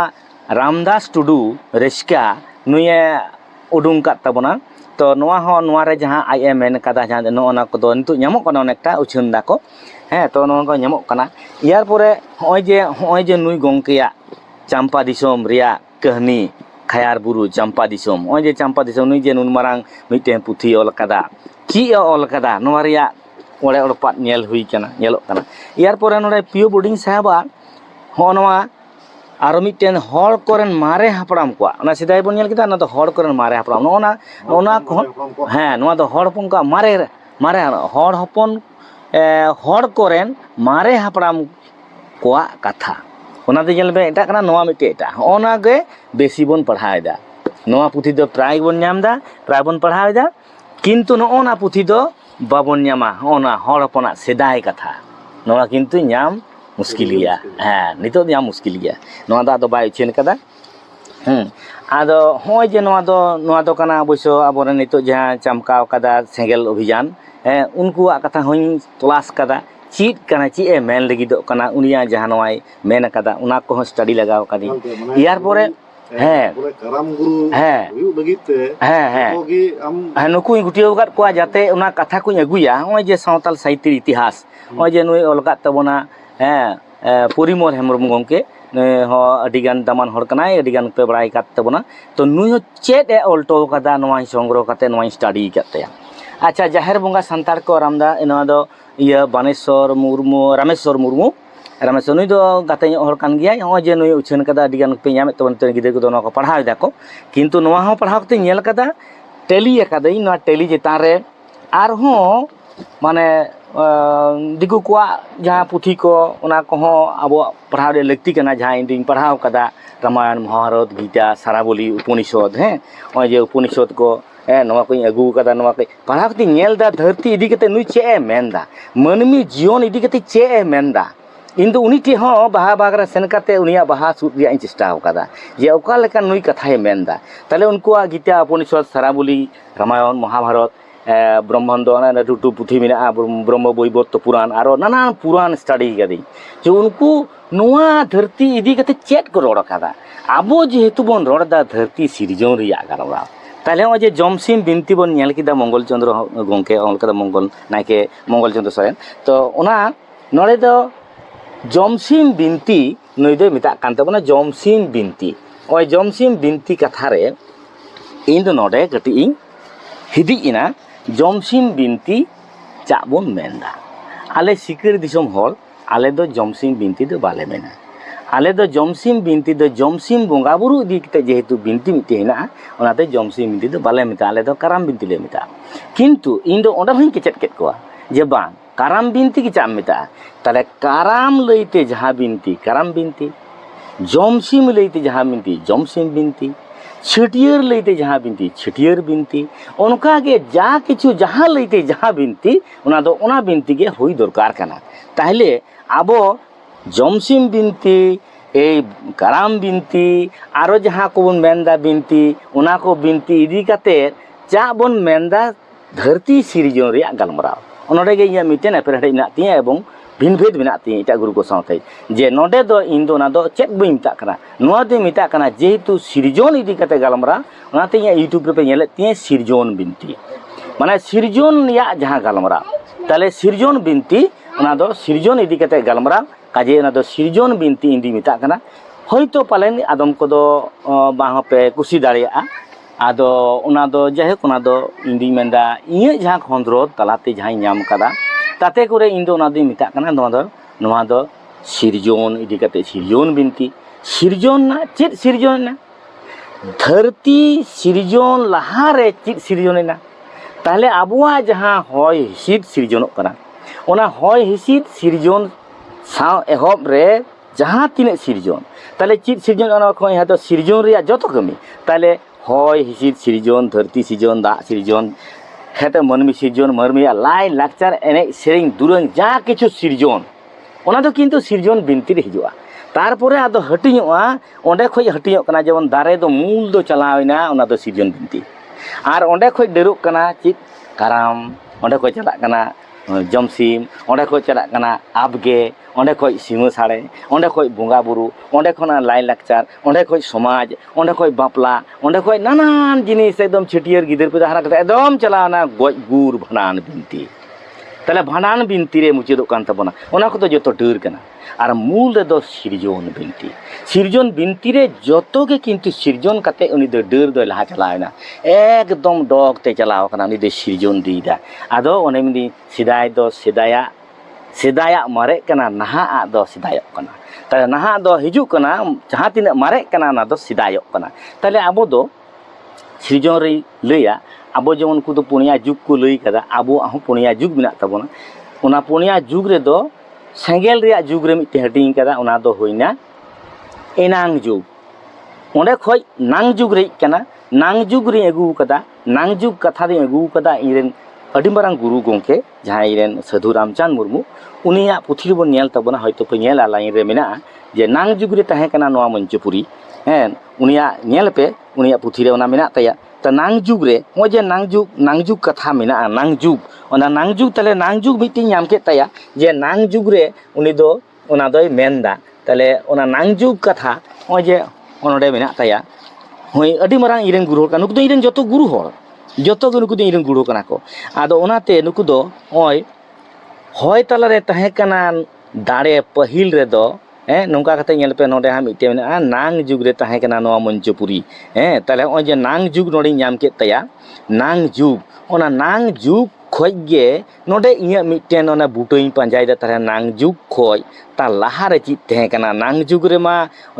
ᱨᱟᱢᱫᱟᱥ ᱴᱩᱰᱩ ᱨᱮᱥᱠᱟ ᱱᱩᱭᱮ ᱩᱰᱩᱝ ᱟᱠᱟᱫ ᱛᱟᱵᱚᱱᱟ ᱛᱚ ᱱᱚᱣᱟ ᱦᱚᱸ ᱱᱚᱣᱟ ᱨᱮ ᱡᱟᱦᱟᱸ ᱟᱡ ᱮ ᱢᱮᱱ ᱟᱠᱟᱫᱟ ᱡᱟᱦᱟᱸ ᱫᱚ ᱱᱚᱜᱼᱚ ᱱᱚᱣᱟ ᱠᱚᱫᱚ ᱱᱤᱛᱚᱜ ᱧᱟᱢᱚᱜ ᱠᱟᱱᱟ ᱚᱱᱮᱠᱴᱟ ᱩᱪᱷᱟᱹᱱ ᱮᱫᱟᱠᱚ ᱦᱮᱸ ᱛᱚ ᱱᱚᱣᱟ ᱠᱚ ᱧᱟᱢᱚᱜ ᱠᱟᱱᱟ ᱮᱭᱟᱨᱯᱚᱨᱮ ᱱᱚᱜᱼᱚᱭ ᱡᱮ ᱱᱚᱜᱼᱚᱭ ᱡᱮ ᱱᱩᱭ ᱜᱚᱢᱠᱮᱭᱟᱜ ᱪᱟᱢᱯᱟ ᱫᱤᱥᱚᱢ ᱨᱮᱭᱟᱜ ᱠᱟᱹᱦᱱᱤ ᱠᱷᱟᱭᱟᱨ ᱵᱩᱨᱩ ᱪᱟᱢᱯᱟ ᱫᱤᱥᱚᱢ ᱱᱚᱜᱼᱚᱭ ᱡᱮ ᱪᱟᱢᱯᱟ ᱫᱤᱥᱚᱢ ᱱᱩᱭ ᱡᱮ ᱱᱩᱱ ᱢᱟᱨᱟᱝ ᱢᱤᱫᱴᱮᱱ ᱯᱩᱛᱷᱤᱭ ᱚᱞ ᱟᱠᱟᱫᱟ ᱪᱮᱫ ᱮ ᱚᱞ ᱟᱠᱟᱫᱟ ᱱᱚᱣᱟ ᱨᱮᱭᱟᱜ ᱚᱲᱮ ᱚᱲᱯᱟᱫ ᱧᱮᱞ ᱦᱩᱭ ᱠᱟᱱᱟ ᱧᱮᱞᱚᱜ ᱠᱟᱱᱟ ᱮᱭᱟᱨ ᱯᱚᱨᱮ ᱱᱚᱰᱮ ᱯᱤ ᱳ ᱵᱳᱰᱤᱝ ᱥᱟᱦᱮᱵᱟᱜ ᱦᱚᱸᱜᱼᱚ ᱱᱚᱣᱟ ᱟᱨᱚ ᱢᱤᱫᱴᱮᱱ ᱦᱚᱲ ᱠᱚᱨᱮᱱ ᱢᱟᱨᱮ ᱦᱟᱯᱲᱟᱢ ᱠᱚᱣᱟᱜ ᱚᱱᱟ ᱥᱮᱫᱟᱭ ᱵᱚᱱ ᱧᱮᱞ ᱠᱮᱫᱟ ᱚᱱᱟ ᱫᱚ ᱦᱚᱲ ᱠᱚᱨᱮᱱ ᱢᱟᱨᱮ ᱦᱟᱯᱲᱟᱢ ᱱᱚᱜᱼᱚ ᱱᱟ ᱱᱚᱜᱼᱚ ᱱᱟ ᱠᱚᱦᱚᱸ ᱦᱮᱸ ᱱᱚᱣᱟ ᱫᱚ ᱦᱚᱲ ᱦᱚᱯᱚᱱ ᱠᱚᱣᱟᱜ ᱢᱟᱨᱮ ᱢᱟᱨᱮ ᱦᱚᱲ ᱦᱚᱯᱚᱱ ᱦᱚᱲ ᱠᱚᱨᱮᱱ ᱢᱟᱨᱮ ᱦᱟᱯᱲᱟᱢ ᱠᱚᱣᱟᱜ ᱠᱟᱛᱷᱟ ᱚᱱᱟ ᱫᱚ ᱧᱮᱞ ᱢᱮ ᱮᱴᱟᱜ ᱠᱟᱱᱟ ᱱᱚᱣᱟ ᱢᱤᱫᱴᱮᱡ ᱮᱴᱟᱜ ᱦᱚᱸᱜᱼᱚ ᱱᱟ ᱜᱮ ᱵᱮᱥᱤ ᱵᱚᱱ ᱯᱟᱲᱦᱟᱣᱮᱫᱟ ᱱᱚᱣᱟ ᱯᱩᱛᱷᱤ ᱫᱚ ᱯᱨᱟᱭ ᱜᱮᱵᱚᱱ ᱧᱟᱢᱫᱟ ᱯᱨᱟᱭ ᱵᱚᱱ ᱯᱟᱲᱦᱟᱣᱮᱫᱟ ᱠᱤᱱᱛᱩ ᱱᱚᱜᱼᱚ ᱱᱟ ᱯᱩᱛᱷᱤ ᱫᱚ ᱵᱟᱵᱚᱱ ᱧᱟᱢᱟ ᱦᱚᱸᱜᱼᱚ ᱱᱟ ᱦᱚᱲ ᱦᱚᱯᱚᱱᱟᱜ ᱥᱮᱫᱟᱭ ᱠᱟᱛᱷᱟ ᱱᱚᱣᱟ ᱠᱤᱱᱛᱩ ᱧᱟᱢ ᱢᱩᱥᱠᱤᱞ ᱜᱮᱭᱟ ᱦᱮᱸ ᱱᱤᱛᱚᱜ ᱫᱚ ᱧᱟᱢ ᱢᱩᱥᱠᱤᱞ ᱜᱮᱭᱟ ᱱᱚᱣᱟ ᱫᱚ ᱟᱫᱚ ᱵᱟᱭ ᱩᱪᱷᱟᱹᱱ ᱠᱟᱫᱟ ᱦᱮᱸ ᱟᱫᱚ ᱦᱚᱸᱜᱼᱚᱭ ᱡᱮ ᱱᱚᱣᱟ ᱫᱚ ᱱᱚᱣᱟ ᱫᱚ ᱠᱟᱱᱟ ᱚᱵᱚᱥᱥᱳ ᱟᱵᱚ ᱨᱮᱱ ᱱᱤᱛᱳᱜ ᱡᱟᱦᱟᱸ ᱪᱟᱢᱠᱟᱣ ᱠᱟᱫᱟ ᱥᱮᱸᱜᱮᱞ ᱚᱵᱷᱤᱡᱟᱱ ᱦᱮᱸ ᱩᱱᱠᱩᱣᱟᱜ ᱠᱟᱛᱷᱟ ᱦᱚᱸᱧ ᱛᱚᱞᱟᱥ ᱠᱟᱫᱟ ᱪᱮᱫ ᱠᱟᱱᱟᱭ ᱪᱮᱫ ᱮ ᱢᱮᱱ ᱞᱟᱹᱜᱤᱫᱚᱜ ᱠᱟᱱᱟ ᱩᱱᱤᱭᱟᱜ ᱡᱟᱦᱟᱸ ᱱᱚᱣᱟᱭ ᱢᱮᱱ ᱠᱟᱫᱟ ᱚᱱᱟ ᱠᱚᱦᱚᱸ ᱥᱴᱟᱰᱤ ᱞᱟᱜᱟᱣ ᱠᱟᱹᱫᱤᱧ ᱮᱭᱟᱨ ᱯᱚᱨᱮ ᱦᱮᱸ ᱠᱟᱨᱟᱢ
ᱜᱩᱨᱩ ᱦᱮᱸ ᱦᱩᱭᱩᱜ ᱞᱟᱹᱜᱤᱫ ᱛᱮ ᱦᱮᱸ ᱦᱮᱸ ᱦᱮᱸ ᱱᱩᱠᱩᱧ
ᱜᱩᱴᱭᱟᱹᱣ ᱠᱟᱫ ᱠᱚᱣᱟ ᱡᱟᱛᱮ ᱚᱱᱟ ᱠᱟᱛᱷᱟ ᱠᱚᱧ ᱟᱹᱜᱩᱭᱟ ᱦᱚᱸᱜᱼᱚᱭ ᱡᱮ ᱥᱟᱶᱛᱟᱞ ᱥᱟᱦᱤᱛᱛᱚ ᱤᱛᱤᱦᱟᱥ ᱦᱚᱸᱜᱼᱚᱭ ᱡᱮ ᱱᱩᱭ ᱚᱞ ᱠᱟᱫ ᱛᱟᱵᱚᱱᱟ ᱦᱮᱸ ᱯᱚᱨᱤᱢᱚᱞ ᱦᱮᱢᱵᱨᱚᱢ ᱜᱚᱢᱠᱮ ᱱᱩᱭ ᱦᱚᱸ ᱟᱹᱰᱤᱜᱟᱱ ᱫᱟᱢᱟᱱ ᱦᱚᱲ ᱠᱟᱱᱟᱭ ᱟᱹᱰᱤᱜᱟᱱ ᱯᱮ ᱵᱟᱲᱟᱭ ᱠᱟᱫ ᱛᱟᱵᱚᱱᱟ ᱛᱳ ᱱᱩᱭ ᱦᱚᱸ ᱪᱮᱫ ᱮ ᱚᱞ ᱦᱚᱴᱚ ᱠᱟᱫᱟ ᱱᱚᱣᱟᱧ ᱥᱚᱝᱜᱨᱚᱦᱚ ᱠᱟᱛᱮᱫ ᱱᱚᱣᱟᱧ ᱥᱴᱟᱰᱤ ᱠᱟᱫ ᱛᱟᱭᱟ ᱟᱪᱪᱷᱟ ᱡᱟᱦᱮᱨ ᱵᱚᱸᱜᱟ ᱥᱟᱱᱛᱟᱲ ᱠᱚ ᱟᱨᱟᱢ ᱮᱫᱟ ᱱᱚᱣᱟ ᱫᱚ ᱤᱭᱟᱹ ᱵᱟᱱᱮᱥᱥᱚᱨ ᱢᱩᱨᱢᱩ ᱨᱟᱢᱮᱥᱥᱚᱨ ᱢᱩᱨᱢᱩ ᱨᱟᱢᱮᱥᱥᱚᱨ ᱱᱩᱭ ᱫᱚ ᱜᱟᱛᱮ ᱧᱚᱜ ᱦᱚᱲ ᱠᱟᱱ ᱜᱮᱭᱟᱭ ᱱᱚᱜᱼᱚᱭ ᱡᱮ ᱱᱩᱭᱮ ᱩᱪᱷᱟᱹᱱ ᱠᱟᱫᱟ ᱟᱹᱰᱤᱜᱟᱱ ᱯᱮ ᱧᱟᱢᱮᱫ ᱛᱟᱵᱚᱱᱟ ᱱᱤᱛᱚᱜ ᱨᱮᱱ ᱜᱤᱫᱽᱨᱟᱹ ᱠᱚᱫᱚ ᱱᱚᱣᱟ ᱠᱚ ᱯᱟᱲᱦᱟᱣ ᱮᱫᱟᱠᱚ ᱠᱤᱱᱛᱩ ᱱᱚᱣᱟ ᱦᱚᱸ ᱯᱟᱲᱦᱟᱣ ᱠᱟᱛᱮᱫ ᱤᱧ ᱧᱮᱞ ᱠᱟᱫᱟ ᱴᱮᱞᱤ ᱟᱠᱟᱫᱟᱹᱧ ᱱᱚᱣᱟ ᱴᱮᱞᱤ ᱪᱮᱛᱟᱱ ᱨᱮ ᱟᱨᱦᱚᱸ ᱢᱟᱱᱮ ᱫᱤᱠᱩ ᱠᱚᱣᱟᱜ ᱡᱟᱦᱟᱸ ᱯᱩᱛᱷᱤ ᱠᱚ ᱚᱱᱟ ᱠᱚᱦᱚᱸ ᱟᱵᱚᱣᱟᱜ ᱯᱟᱲᱦᱟᱣ ᱨᱮ ᱞᱟᱹᱠᱛᱤ ᱠᱟᱱᱟ ᱡᱟᱦᱟᱸ ᱤᱧ ᱫᱩᱧ ᱯᱟᱲᱦᱟᱣ ᱠᱟᱫᱟ ᱨᱟᱢᱟᱭᱚᱱ ᱢᱚᱦᱟᱵᱟᱨᱚᱛ ᱜᱤᱛᱟ ᱥᱟᱨᱟᱵᱚᱞᱤ ᱩᱯᱚᱱᱤᱥᱚᱫᱽ ᱦᱮᱸ ᱱᱚᱜᱼᱚᱭ ᱡᱮ ᱩᱯᱚᱱᱤᱥᱚᱫᱽ ᱠᱚ ᱦᱮᱸ ᱱᱚᱣᱟ ᱠᱚᱧ ᱟᱹᱜᱩ ᱠᱟᱫᱟ ᱱᱚᱣᱟ ᱠᱚ ᱯᱟᱲᱦᱟᱣ ᱠᱟᱛᱮᱧ ᱧᱮᱞᱫᱟ ᱫᱷᱟᱹᱨᱛᱤ ᱤᱫᱤ ᱠᱟᱛᱮ ᱱᱩᱭ ᱪᱮᱫ ᱮ ᱢᱮᱱᱫᱟ ᱢᱟᱹᱱᱢᱤ ᱡᱤᱭᱚᱱ ᱤᱫᱤ ᱠᱟᱛᱮ ᱪᱮᱫ ᱮ ᱢᱮᱱᱫᱟ ᱤᱧ ᱫᱚ ᱩᱱᱤ ᱴᱷᱮᱡ ᱦᱚᱸ ᱵᱟᱦᱟ ᱵᱟᱜᱽ ᱨᱮ ᱥᱮᱱ ᱠᱟᱛᱮ ᱩᱱᱤᱭᱟᱜ ᱵᱟᱦᱟ ᱥᱩᱫ ᱨᱮᱭᱟᱜ ᱤᱧ ᱪᱮᱥᱴᱟᱣ ᱠᱟᱫᱟ ᱡᱮ ᱚᱠᱟ ᱞᱮᱠᱟᱱ ᱱᱩᱭ ᱠᱟᱛᱷᱟᱭ ᱢᱮᱱᱫᱟ ᱛᱟᱦᱚᱞᱮ ᱩᱱᱠᱩᱣᱟᱜ ᱜᱤᱛᱟ ᱩᱯᱚᱱᱤᱥᱚᱫᱽ ᱥᱟᱨᱟᱵᱚᱞᱤ ᱨᱟᱢᱟᱭᱚᱱ ᱢᱚᱦᱟᱵᱷᱟᱨᱚᱛ ᱵᱨᱚᱢᱵᱷᱚᱱᱫᱚ ᱚᱱᱟ ᱞᱟᱹᱴᱩ ᱯᱩᱛᱷᱤ ᱢᱮᱱᱟᱜᱼᱟ ᱵᱨᱚᱢᱵᱷᱚ ᱵᱳᱭᱵᱚᱨᱛᱚ ᱯᱩᱨᱟᱱ ᱟᱨᱚ ᱱᱟᱱᱟᱱ ᱯᱩᱨᱟᱱ ᱥᱴᱟᱰᱤ ᱠᱟᱹᱫᱟᱹᱧ ᱡᱮ ᱩᱱᱠᱩ ᱱᱚᱣᱟ ᱫᱷᱟᱹᱨᱛᱤ ᱤᱫᱤ ᱠᱟᱛᱮ ᱪᱮᱫ ᱠᱚ ᱨᱚᱲ ᱠᱟᱫᱟ ᱟᱵᱚ ᱡᱮᱦᱮᱛᱩ ᱵᱚᱱ ᱨᱚᱲ ᱮᱫᱟ ᱫᱷᱟᱹᱨᱛᱤ ᱥᱤᱨᱡᱚᱱ ᱨᱮᱭᱟᱜ ᱜᱟᱞᱢᱟᱨᱟᱣ ᱛᱟᱦᱚᱞᱮ ᱱᱚᱜᱼᱚᱭ ᱡᱮ ᱡᱚᱢᱥᱤᱢ ᱵᱤᱱᱛᱤ ᱵᱚᱱ ᱧᱮᱞ ᱠᱮᱫᱟ ᱢᱚᱝᱜᱚᱞ ᱪᱚᱱᱫᱨᱚ ᱜᱚᱢᱠᱮ ᱚᱞ ᱠᱟᱫᱟ ᱢᱚᱝᱜᱚᱞ ᱱᱟᱭᱠᱮ ᱢᱚᱝᱜᱚᱞ ᱪᱚᱱᱫᱨᱚ ᱥᱚᱨᱮᱱ ᱛᱚ ᱚᱱᱟ ᱱᱚᱰᱮ ᱫᱚ ᱡᱚᱢᱥᱤᱢ ᱵᱤᱱᱛᱤ ᱱᱩᱭ ᱫᱚᱭ ᱢᱮᱛᱟᱜ ᱠᱟᱱ ᱛᱟᱵᱚᱱᱟ ᱡᱚᱢᱥᱤᱢ ᱵᱤᱱᱛᱤ ᱱᱚᱜᱼᱚᱭ ᱡᱚᱢᱥᱤᱢ ᱵᱤᱱᱛᱤ ᱠᱟᱛᱷᱟ ᱨᱮ ᱤᱧ ᱫᱚ ᱱᱚᱰᱮ ᱠᱟᱹᱴᱤᱡ ᱤᱧ ᱦᱤᱫᱤᱡ ᱮᱱᱟ ᱡᱚᱢᱥᱤᱢ ᱵᱤᱱᱛᱤ ᱪᱟᱜ ᱵᱚᱱ ᱢᱮᱱᱫᱟ ᱟᱞᱮ ᱥᱤᱠᱟᱹᱨ ᱫᱤᱥᱚᱢ ᱦᱚᱲ ᱟᱞᱮ ᱫᱚ ᱡᱚᱢᱥᱤᱢ ᱵᱤᱱᱛᱤ ᱫᱚ ᱵᱟᱞᱮ ᱢᱮᱱᱟ ᱟᱞᱮ ᱫᱚ ᱡᱚᱢᱥᱤᱢ ᱵᱤᱱᱛᱤ ᱫᱚ ᱡᱚᱢᱥᱤᱢ ᱵᱚᱸᱜᱟ ᱵᱩᱨᱩ ᱤᱫᱤ ᱠᱟᱛᱮ ᱡᱮᱦᱮᱛᱩ ᱵᱤᱱᱛᱤ ᱢᱤᱫᱴᱮᱡ ᱦᱮᱱᱟᱜᱼᱟ ᱚᱱᱟᱛᱮ ᱡᱚᱢᱥᱤᱢ ᱵᱤᱱᱛᱤ ᱫᱚ ᱵᱟᱞᱮ ᱢᱮᱛᱟᱜᱼᱟ ᱟᱞᱮ ᱫᱚ ᱠᱟᱨᱟᱢ ᱵᱤᱱᱛᱤ ᱞᱮ ᱢᱮᱛᱟᱜᱼᱟ ᱠᱤᱱᱛᱩ ᱤᱧ ᱫᱚ ᱚᱸᱰᱮ ᱦᱚᱸᱧ ᱠᱮᱪᱮᱫ ᱠᱮᱫ ᱠᱚᱣᱟ ᱡᱮ ᱵᱟᱝ ᱠᱟᱨᱟᱢ ᱵᱤᱱᱛᱤ ᱜᱮ ᱪᱟᱜ ᱮᱢ ᱢᱮᱛᱟᱜᱼᱟ ᱛᱟᱦᱚᱞᱮ ᱠᱟᱨᱟᱢ ᱞᱟᱹᱭᱛᱮ ᱡᱟᱦᱟᱸ ᱵᱤᱱᱛᱤ ᱠᱟᱨᱟᱢ ᱵᱤᱱᱛᱤ ᱡᱚᱢᱥᱤᱢ ᱞᱟᱹᱭᱛᱮ ᱡᱟᱦᱟᱸ ᱵᱤᱱᱛᱤ ᱡᱚᱢᱥᱤᱢ ᱵᱤᱱᱛᱤ ᱪᱷᱟᱹᱴᱭᱟᱹᱨ ᱞᱟᱹᱭᱛᱮ ᱡᱟᱦᱟᱸ ᱵᱤᱱᱛᱤ ᱪᱷᱟᱹᱴᱭᱟᱹᱨ ᱵᱤᱱᱛᱤ ᱚᱱᱠᱟᱜᱮ ᱡᱟ ᱠᱤᱪᱷᱩ ᱡᱟᱦᱟᱸ ᱞᱟᱹᱭᱛᱮ ᱡᱟᱦᱟᱸ ᱵᱤᱱᱛᱤ ᱚᱱᱟ ᱫᱚ ᱚᱱᱟ ᱵᱤᱱᱛᱤ ᱜᱮ ᱦᱩᱭ ᱫᱚᱨᱠᱟᱨ ᱠᱟᱱᱟ ᱛᱟᱦᱚᱞᱮ ᱟᱵᱚ ᱡᱚᱢᱥᱤᱢ ᱵᱤᱱᱛᱤ ᱮᱭ ᱠᱟᱨᱟᱢ ᱵᱤᱱᱛᱤ ᱟᱨᱚ ᱡᱟᱦᱟᱸ ᱠᱚᱵᱚᱱ ᱢᱮᱱᱫᱟ ᱵᱤᱱᱛᱤ ᱚᱱᱟ ᱠᱚ ᱵᱤᱱᱛᱤ ᱤᱫᱤ ᱠᱟᱛᱮᱫ ᱪᱟᱜ ᱵᱚᱱ ᱢᱮᱱᱫᱟ ᱫᱷᱟᱹᱨᱛᱤ ᱥᱤᱨᱡᱚᱱ ᱨᱮᱭᱟᱜ ᱜᱟᱞᱢᱟᱨᱟᱣ ᱱᱚᱰᱮ ᱜᱮ ᱤᱧᱟᱹᱜ ᱢᱤᱫᱴᱮᱱ ᱮᱯᱮᱨᱦᱮᱰᱮᱡ ᱢᱮᱱᱟᱜ ᱛᱤᱧᱟᱹ ᱮᱵᱚᱝ ᱵᱷᱤᱱᱵᱷᱮᱫ ᱢᱮᱱᱟᱜ ᱛᱤᱧᱟᱹ ᱮᱴᱟᱜ ᱜᱩᱨᱩ ᱠᱚ ᱥᱟᱶᱛᱮ ᱡᱮ ᱱᱚᱰᱮ ᱫᱚ ᱤᱧ ᱫᱚ ᱚᱱᱟ ᱫᱚ ᱪᱮᱫ ᱵᱟᱹᱧ ᱢᱮᱛᱟᱜ ᱠᱟᱱᱟ ᱱᱚᱣᱟ ᱫᱚᱧ ᱢᱮᱛᱟᱜ ᱠᱟᱱᱟ ᱡᱮᱦᱮᱛᱩ ᱥᱤᱨᱡᱚᱱ ᱤᱫᱤ ᱠᱟᱛᱮ ᱜᱟᱞᱢᱟᱨᱟᱣ ᱚᱱᱟᱛᱮ ᱤᱧᱟᱹᱜ ᱤᱭᱩᱴᱩᱵᱽ ᱨᱮᱯᱮ ᱧᱮᱞᱮᱫ ᱛᱤᱧᱟᱹ ᱥᱤᱨᱡᱚᱱ ᱵᱤᱱᱛᱤ ᱢᱟᱱᱮ ᱥᱤᱨᱡᱚᱱ ᱨᱮᱭᱟᱜ ᱡᱟᱦᱟᱸ ᱜᱟᱞᱢᱟᱨᱟᱣ ᱛᱟᱦᱞᱮ ᱥᱤᱨᱡᱚᱱ ᱵᱤᱱᱛᱤ ᱚᱱᱟ ᱫᱚ ᱥᱤᱨᱡᱚᱱ ᱤᱫᱤ ᱠᱟᱛᱮ ᱜᱟᱞᱢᱟᱨᱟᱣ ᱠᱟᱡᱮ ᱚᱱᱟ ᱫᱚ ᱥᱤᱨᱡᱚᱱ ᱵᱤᱱᱛᱤ ᱤᱧ ᱫᱩᱧ ᱢᱮᱛᱟᱜ ᱠᱟᱱᱟ ᱦᱳᱭᱛᱳ ᱯᱟᱞᱮᱱ ᱟᱫᱚᱢ ᱠᱚᱫᱚ ᱵᱟᱝ ᱦᱚᱸᱯᱮ ᱠᱩᱥᱤ ᱫᱟᱲᱮᱭᱟᱜᱼᱟ ᱟᱫᱚ ᱚᱱᱟ ᱫᱚ ᱡᱟᱭᱦᱳᱠ ᱚᱱᱟ ᱫᱚ ᱤᱧ ᱫᱩᱧ ᱢᱮᱱᱫᱟ ᱤᱧᱟᱹᱜ ᱡᱟᱦᱟᱸ ᱠᱷᱚᱸᱫᱽᱨᱚᱸᱫᱽ ᱛᱟᱞᱟᱛᱮ ᱡᱟᱦᱟᱸᱧ ᱧᱟᱢ ᱠᱟᱫᱟ ᱛᱟᱛᱮ ᱠᱚᱨᱮ ᱤᱧ ᱫᱚ ᱚᱱᱟ ᱫᱚᱧ ᱢᱮᱛᱟᱜ ᱠᱟᱱᱟ ᱱᱚᱣᱟ ᱫᱚ ᱱᱚᱣᱟ ᱫᱚ ᱥᱤᱨᱡᱚᱱ ᱤᱫᱤ ᱠᱟᱛᱮ ᱥᱤᱨᱡᱚᱱ ᱵᱤᱱᱛᱤ ᱥᱤᱨᱡᱚᱱ ᱨᱮᱱᱟᱜ ᱪᱮᱫ ᱥᱤᱨᱡᱚᱱ ᱮᱱᱟ ᱫᱷᱟᱹᱨᱛᱤ ᱥᱤᱨᱡᱚᱱ ᱞᱟᱦᱟ ᱨᱮ ᱪᱮᱫ ᱥᱤᱨᱡᱚᱱ ᱮᱱᱟ ᱛᱟᱦᱚᱞᱮ ᱟᱵᱚᱣᱟᱜ ᱡᱟᱦᱟᱸ ᱦᱚᱭ ᱦᱤᱸᱥᱤᱫ ᱥᱤᱨᱡᱚᱱᱚᱜ ᱠᱟᱱᱟ ᱚᱱᱟ ᱦᱚᱭ ᱦᱤᱸᱥᱤᱫ ᱥᱤᱨᱡᱚᱱ ᱥᱟᱶ ᱮᱦᱚᱵ ᱨᱮ ᱡᱟᱦᱟᱸ ᱛᱤᱱᱟᱹᱜ ᱥᱤᱨᱡᱚᱱ ᱛᱟᱦᱚᱞᱮ ᱪᱮᱫ ᱥᱤᱨᱡᱚᱱ ᱚᱱᱟ ᱠᱚ ᱡᱟᱦᱟᱸ ᱫᱚ ᱥᱤᱨᱡᱚᱱ ᱨᱮᱭᱟᱜ ᱡᱚᱛᱚ ᱠᱟᱹᱢᱤ ᱛᱟᱦᱚᱞᱮ ᱦᱚᱭ ᱦᱤᱸᱥᱤᱫ ᱥᱤᱨᱡᱚᱱ ᱫᱷᱟᱹᱨᱛᱤ ᱥᱤᱨᱡᱚᱱ ᱫᱟᱜ ᱥᱤᱨᱡᱚᱱ ᱦᱮᱸᱛᱚ ᱢᱟᱹᱱᱢᱤ ᱥᱤᱨᱡᱚᱱ ᱢᱟᱹᱱᱢᱤᱭᱟᱜ ᱞᱟᱭ ᱞᱟᱠᱪᱟᱨ ᱮᱱᱮᱡ ᱥᱮᱨᱮᱧ ᱫᱩᱨᱟᱹᱝ ᱡᱟ ᱠᱤᱪᱷᱩ ᱥᱤᱨᱡᱚᱱ ᱚᱱᱟ ᱫᱚ ᱠᱤᱱᱛᱩ ᱥᱤᱨᱡᱚᱱ ᱵᱤᱱᱛᱤ ᱨᱮ ᱦᱤᱡᱩᱜᱼᱟ ᱛᱟᱨᱯᱚᱨᱮ ᱟᱫᱚ ᱦᱟᱹᱴᱤᱧᱚᱜᱼᱟ ᱚᱸᱰᱮ ᱠᱷᱚᱱ ᱦᱟᱹᱴᱤᱧᱚᱜ ᱠᱟᱱᱟ ᱡᱮᱢᱚᱱ ᱫᱟᱨᱮ ᱫᱚ ᱢᱩᱞ ᱫᱚ ᱪᱟᱞᱟᱣᱮᱱᱟ ᱚᱱᱟ ᱫᱚ ᱥᱤᱨᱡᱚᱱ ᱵᱤᱱᱛᱤ ᱟᱨ ᱚᱸᱰᱮ ᱠᱷᱚᱱ ᱰᱟᱹᱨᱚᱜ ᱠᱟᱱᱟ ᱪᱮᱫ ᱠᱟᱨᱟᱢ ᱚᱸᱰᱮ ᱠᱷᱚᱱ ᱪᱟᱞᱟᱜ ᱠᱟᱱᱟ ᱡᱚᱢᱥᱤᱢ ᱚᱸᱰᱮ ᱠᱷᱚᱱ ᱪᱟᱞᱟᱜ ᱠᱟᱱᱟ ᱟᱵᱽᱜᱮ ᱚᱸᱰᱮ ᱠᱷᱚᱱ ᱥᱤᱢᱟᱹ ᱥᱟᱲᱮ ᱚᱸᱰᱮ ᱠᱷᱚᱱ ᱵᱚᱸᱜᱟ ᱵᱳᱨᱳ ᱚᱸᱰᱮ ᱠᱷᱚᱱᱟᱜ ᱞᱟᱭᱼᱞᱟᱠᱪᱟᱨ ᱚᱸᱰᱮ ᱠᱷᱚᱱ ᱥᱚᱢᱟᱡᱽ ᱚᱸᱰᱮ ᱠᱷᱚᱱ ᱵᱟᱯᱞᱟ ᱚᱸᱰᱮ ᱠᱷᱚᱱ ᱱᱟᱱᱟᱱ ᱡᱤᱱᱤᱥ ᱮᱠᱫᱚᱢ ᱪᱷᱟᱹᱴᱭᱟᱹᱨ ᱜᱤᱫᱽᱨᱟᱹ ᱯᱤᱫᱽᱨᱟᱹ ᱦᱟᱨᱟ ᱠᱟᱛᱮᱫ ᱮᱠᱫᱚᱢ ᱪᱟᱞᱟᱣᱱᱟ ᱜᱚᱡ ᱜᱩᱨ ᱵᱷᱟᱸᱰᱟᱱ ᱵᱤᱱᱛᱤ ᱛᱟᱦᱞᱮ ᱵᱷᱟᱸᱰᱟᱱ ᱵᱤᱱᱛᱤ ᱨᱮ ᱢᱩᱪᱟᱹᱫᱚᱜ ᱠᱟᱱ ᱛᱟᱵᱚᱱᱟ ᱚᱱᱟ ᱠᱚᱫᱚ ᱡᱚᱛᱚ ᱰᱟᱹᱨ ᱠᱟᱱᱟ ᱟᱨ ᱢᱩᱞ ᱨᱮᱫᱚ ᱥᱤᱨᱡᱚᱱ ᱵᱤᱱᱛᱤ ᱥᱤᱨᱡᱚᱱ ᱵᱤᱱᱛᱤ ᱨᱮ ᱡᱚᱛᱚ ᱜᱮ ᱠᱤᱱᱛᱩ ᱥᱤᱨᱡᱚᱱ ᱠᱟᱛᱮ ᱩᱱᱤ ᱫᱚ ᱰᱟᱹᱨ ᱫᱚᱭ ᱞᱟᱦᱟ ᱪᱟᱞᱟᱣᱮᱱᱟ ᱮᱠᱫᱚᱢ ᱰᱚᱜᱽ ᱛᱮ ᱪᱟᱞᱟᱣ ᱠᱟᱱᱟ ᱩᱱᱤ ᱫᱚᱭ ᱥᱤᱨᱡᱚᱱ ᱤᱫᱤᱭᱮᱫᱟ ᱟᱫᱚ ᱚᱱᱮ ᱢᱮᱱᱫᱟᱹᱧ ᱥᱮᱫᱟᱭ ᱫᱚ ᱥᱮᱫᱟᱭᱟᱜ ᱥᱮᱫᱟᱭᱟᱜ ᱢᱟᱨᱮᱜ ᱠᱟᱱᱟ ᱱᱟᱦᱟᱜ ᱟᱜ ᱫᱚ ᱥᱮᱫᱟᱭᱚᱜ ᱠᱟᱱᱟ ᱛᱟᱦᱚᱞᱮ ᱱᱟᱦᱟᱜ ᱫᱚ ᱦᱤᱡᱩᱜ ᱠᱟᱱᱟ ᱡᱟᱦᱟᱸ ᱛᱤᱱᱟᱹᱜ ᱢᱟᱨᱮᱜ ᱠᱟᱱᱟ ᱚᱱᱟ ᱫᱚ ᱥᱮᱫᱟᱭᱚᱜ ᱠᱟᱱᱟ ᱛᱟᱦᱚᱞᱮ ᱟᱵᱚ ᱫᱚ ᱥᱤᱨᱡᱚᱱ ᱨᱮ ᱞᱟᱹᱭᱟ ᱟᱵᱚ ᱡᱮᱢᱚᱱ ᱩᱱᱠᱩ ᱫᱚ ᱯᱩᱱᱭᱟ ᱡᱩᱜᱽ ᱠᱚ ᱞᱟᱹᱭ ᱠᱟᱫᱟ ᱟᱵᱚᱣᱟᱜ ᱦᱚᱸ ᱯᱩᱱᱭᱟ ᱡᱩᱜᱽ ᱢᱮᱱᱟᱜ ᱛᱟᱵᱚᱱᱟ ᱚᱱᱟ ᱯᱩᱱᱭᱟ ᱡᱩᱜᱽ ᱨᱮᱫᱚ ᱥᱮᱸᱜᱮᱞ ᱨᱮᱭᱟᱜ ᱡᱩᱜᱽ ᱨᱮ ᱢᱤᱫᱴᱮᱱ ᱦᱟᱹᱴᱤᱧ ᱟᱠᱟᱫᱟ ᱚᱱᱟ ᱫᱚ ᱦᱩᱭᱱᱟ ᱮᱱᱟᱝ ᱡᱩᱜᱽ ᱚᱸᱰᱮ ᱠᱷᱚᱱ ᱱᱟᱝ ᱡᱩᱜᱽ ᱨᱮ ᱦᱮᱡ ᱟᱠᱟᱱᱟ ᱱᱟᱝ ᱡᱩᱜᱽ ᱨᱮᱧ ᱟᱹᱜᱩ ᱟᱠᱟᱫᱟ ᱱᱟᱝ ᱡᱩᱜᱽ ᱠᱟᱛᱷᱟ ᱫᱚᱧ ᱟᱹᱜᱩ ᱟᱠᱟᱫᱟ ᱤᱧ ᱨᱮᱱ ᱟᱹᱰᱤ ᱢᱟᱨᱟᱝ ᱜᱩᱨᱩ ᱜᱚᱢᱠᱮ ᱡᱟᱦᱟᱸᱭ ᱤᱧ ᱨᱮᱱ ᱥᱟᱹᱫᱷᱩ ᱨᱟᱢᱪᱟᱸᱫᱽ ᱢᱩᱨᱢᱩ ᱩᱱᱤᱭᱟᱜ ᱯᱩᱛᱷᱤ ᱨᱮᱵᱚᱱ ᱧᱮᱞ ᱛᱟᱵᱚᱱᱟ ᱦᱚᱭᱛᱳ ᱯᱮ ᱧᱮᱞᱟ ᱞᱟᱭᱤᱱ ᱨᱮ ᱢᱮᱱᱟᱜᱼᱟ ᱡᱮ ᱱᱟᱝ ᱡᱩᱜᱽ ᱨᱮ ᱛᱟᱦᱮᱸ ᱠᱟᱱᱟ ᱱᱚᱣᱟ ᱢᱚᱧᱪᱚᱯᱩᱨᱤ ᱦᱮᱸ ᱩᱱᱤᱭᱟᱜ ᱧᱮᱞ ᱯᱮ ᱩᱱᱤᱭᱟᱜ ᱯᱩᱛᱷᱤ ᱨᱮ ᱚᱱᱟ ᱢᱮᱱᱟᱜ ᱛᱟᱭᱟ ᱛᱚ ᱱᱟᱝ ᱡᱩᱜᱽ ᱨᱮ ᱱᱚᱜᱼᱚᱭ ᱡᱮ ᱱᱟᱝ ᱡᱩᱜᱽ ᱱᱟᱝ ᱡᱩᱜᱽ ᱠᱟᱛᱷᱟ ᱢᱮᱱᱟᱜᱼᱟ ᱱᱟᱝ ᱡᱩᱜᱽ ᱚᱱᱟ ᱱᱟᱝ ᱡᱩᱜᱽ ᱛᱟᱦᱚᱞᱮ ᱱᱟᱝ ᱡᱩᱜᱽ ᱢᱤᱫᱴᱮᱱ ᱧᱟᱢ ᱠᱮᱫ ᱛᱟᱭᱟ ᱡᱮ ᱱᱟᱝ ᱡᱩᱜᱽ ᱨᱮ ᱩᱱᱤ ᱫᱚ ᱚᱱᱟ ᱫᱚᱭ ᱢᱮᱱᱫᱟ ᱛᱟᱦᱚᱞᱮ ᱚᱱᱟ ᱱᱟᱝ ᱡᱩᱜᱽ ᱠᱟᱛᱷᱟ ᱱᱚᱜᱼᱚᱭ ᱡᱮ ᱚᱱᱚᱬᱦᱮ ᱢᱮᱱᱟᱜ ᱛᱟᱭᱟ ᱦᱳᱭ ᱟᱹᱰᱤ ᱢᱟᱨᱟᱝ ᱤᱧ ᱨᱮᱱ ᱜᱩᱨᱩ ᱦᱚᱲ ᱠᱟᱱᱟ ᱱᱩᱠᱩ ᱫᱚ ᱤᱧ ᱨᱮᱱ ᱡᱚᱛᱚ ᱜᱩᱨᱩ ᱦᱚᱲ ᱡᱚᱛᱚ ᱜᱮ ᱱᱩᱠᱩ ᱫᱚ ᱤᱧ ᱨᱮᱱ ᱜᱩᱨᱩ ᱠᱟᱱᱟ ᱠᱚ ᱟᱫᱚ ᱚᱱᱟᱛᱮ ᱱᱩᱠᱩ ᱫᱚ ᱱᱚᱜᱼᱚᱭ ᱦᱚᱭ ᱛᱟᱞᱟᱨᱮ ᱛᱟᱦᱮᱸ ᱠᱟᱱᱟ ᱫᱟᱲᱮ ᱯᱟᱹᱦᱤᱞ ᱨᱮᱫᱚ ᱦᱮᱸᱜ ᱱᱚᱝᱠᱟ ᱠᱟᱛᱮ ᱧᱮᱞ ᱯᱮ ᱱᱚᱰᱮ ᱦᱟᱸᱜ ᱢᱤᱫᱴᱮᱡ ᱢᱮᱱᱟᱜᱼᱟ ᱱᱟᱝ ᱡᱩᱜᱽ ᱨᱮ ᱛᱟᱦᱮᱸ ᱠᱟᱱᱟ ᱱᱚᱣᱟ ᱢᱚᱧᱪᱚᱯᱩᱨᱤ ᱦᱮᱸ ᱛᱟᱦᱞᱮ ᱱᱚᱜᱼᱚᱭ ᱡᱮ ᱱᱟᱝ ᱡᱩᱜᱽ ᱱᱚᱰᱮᱧ ᱧᱟᱢ ᱠᱮᱜ ᱛᱟᱭᱟ ᱱᱟᱝ ᱡᱩᱜᱽ ᱚᱱᱟ ᱱᱟᱝ ᱡᱩᱜᱽ ᱠᱷᱚᱡ ᱜᱮ ᱱᱚᱰᱮ ᱤᱧᱟᱹᱜ ᱢᱤᱫᱴᱮᱱ ᱚᱱᱟ ᱵᱩᱴᱟᱹᱧ ᱯᱟᱸᱡᱟᱭᱮᱫᱟ ᱛᱟᱦᱞᱮ ᱱᱟᱝ ᱡᱩᱜᱽ ᱠᱷᱚᱡ ᱛᱟᱨ ᱞᱟᱦᱟᱨᱮ ᱪᱮᱫ ᱛᱟᱦᱮᱸ ᱠᱟᱱᱟ ᱱᱟᱝ ᱡᱩᱜᱽ ᱨᱮᱢᱟ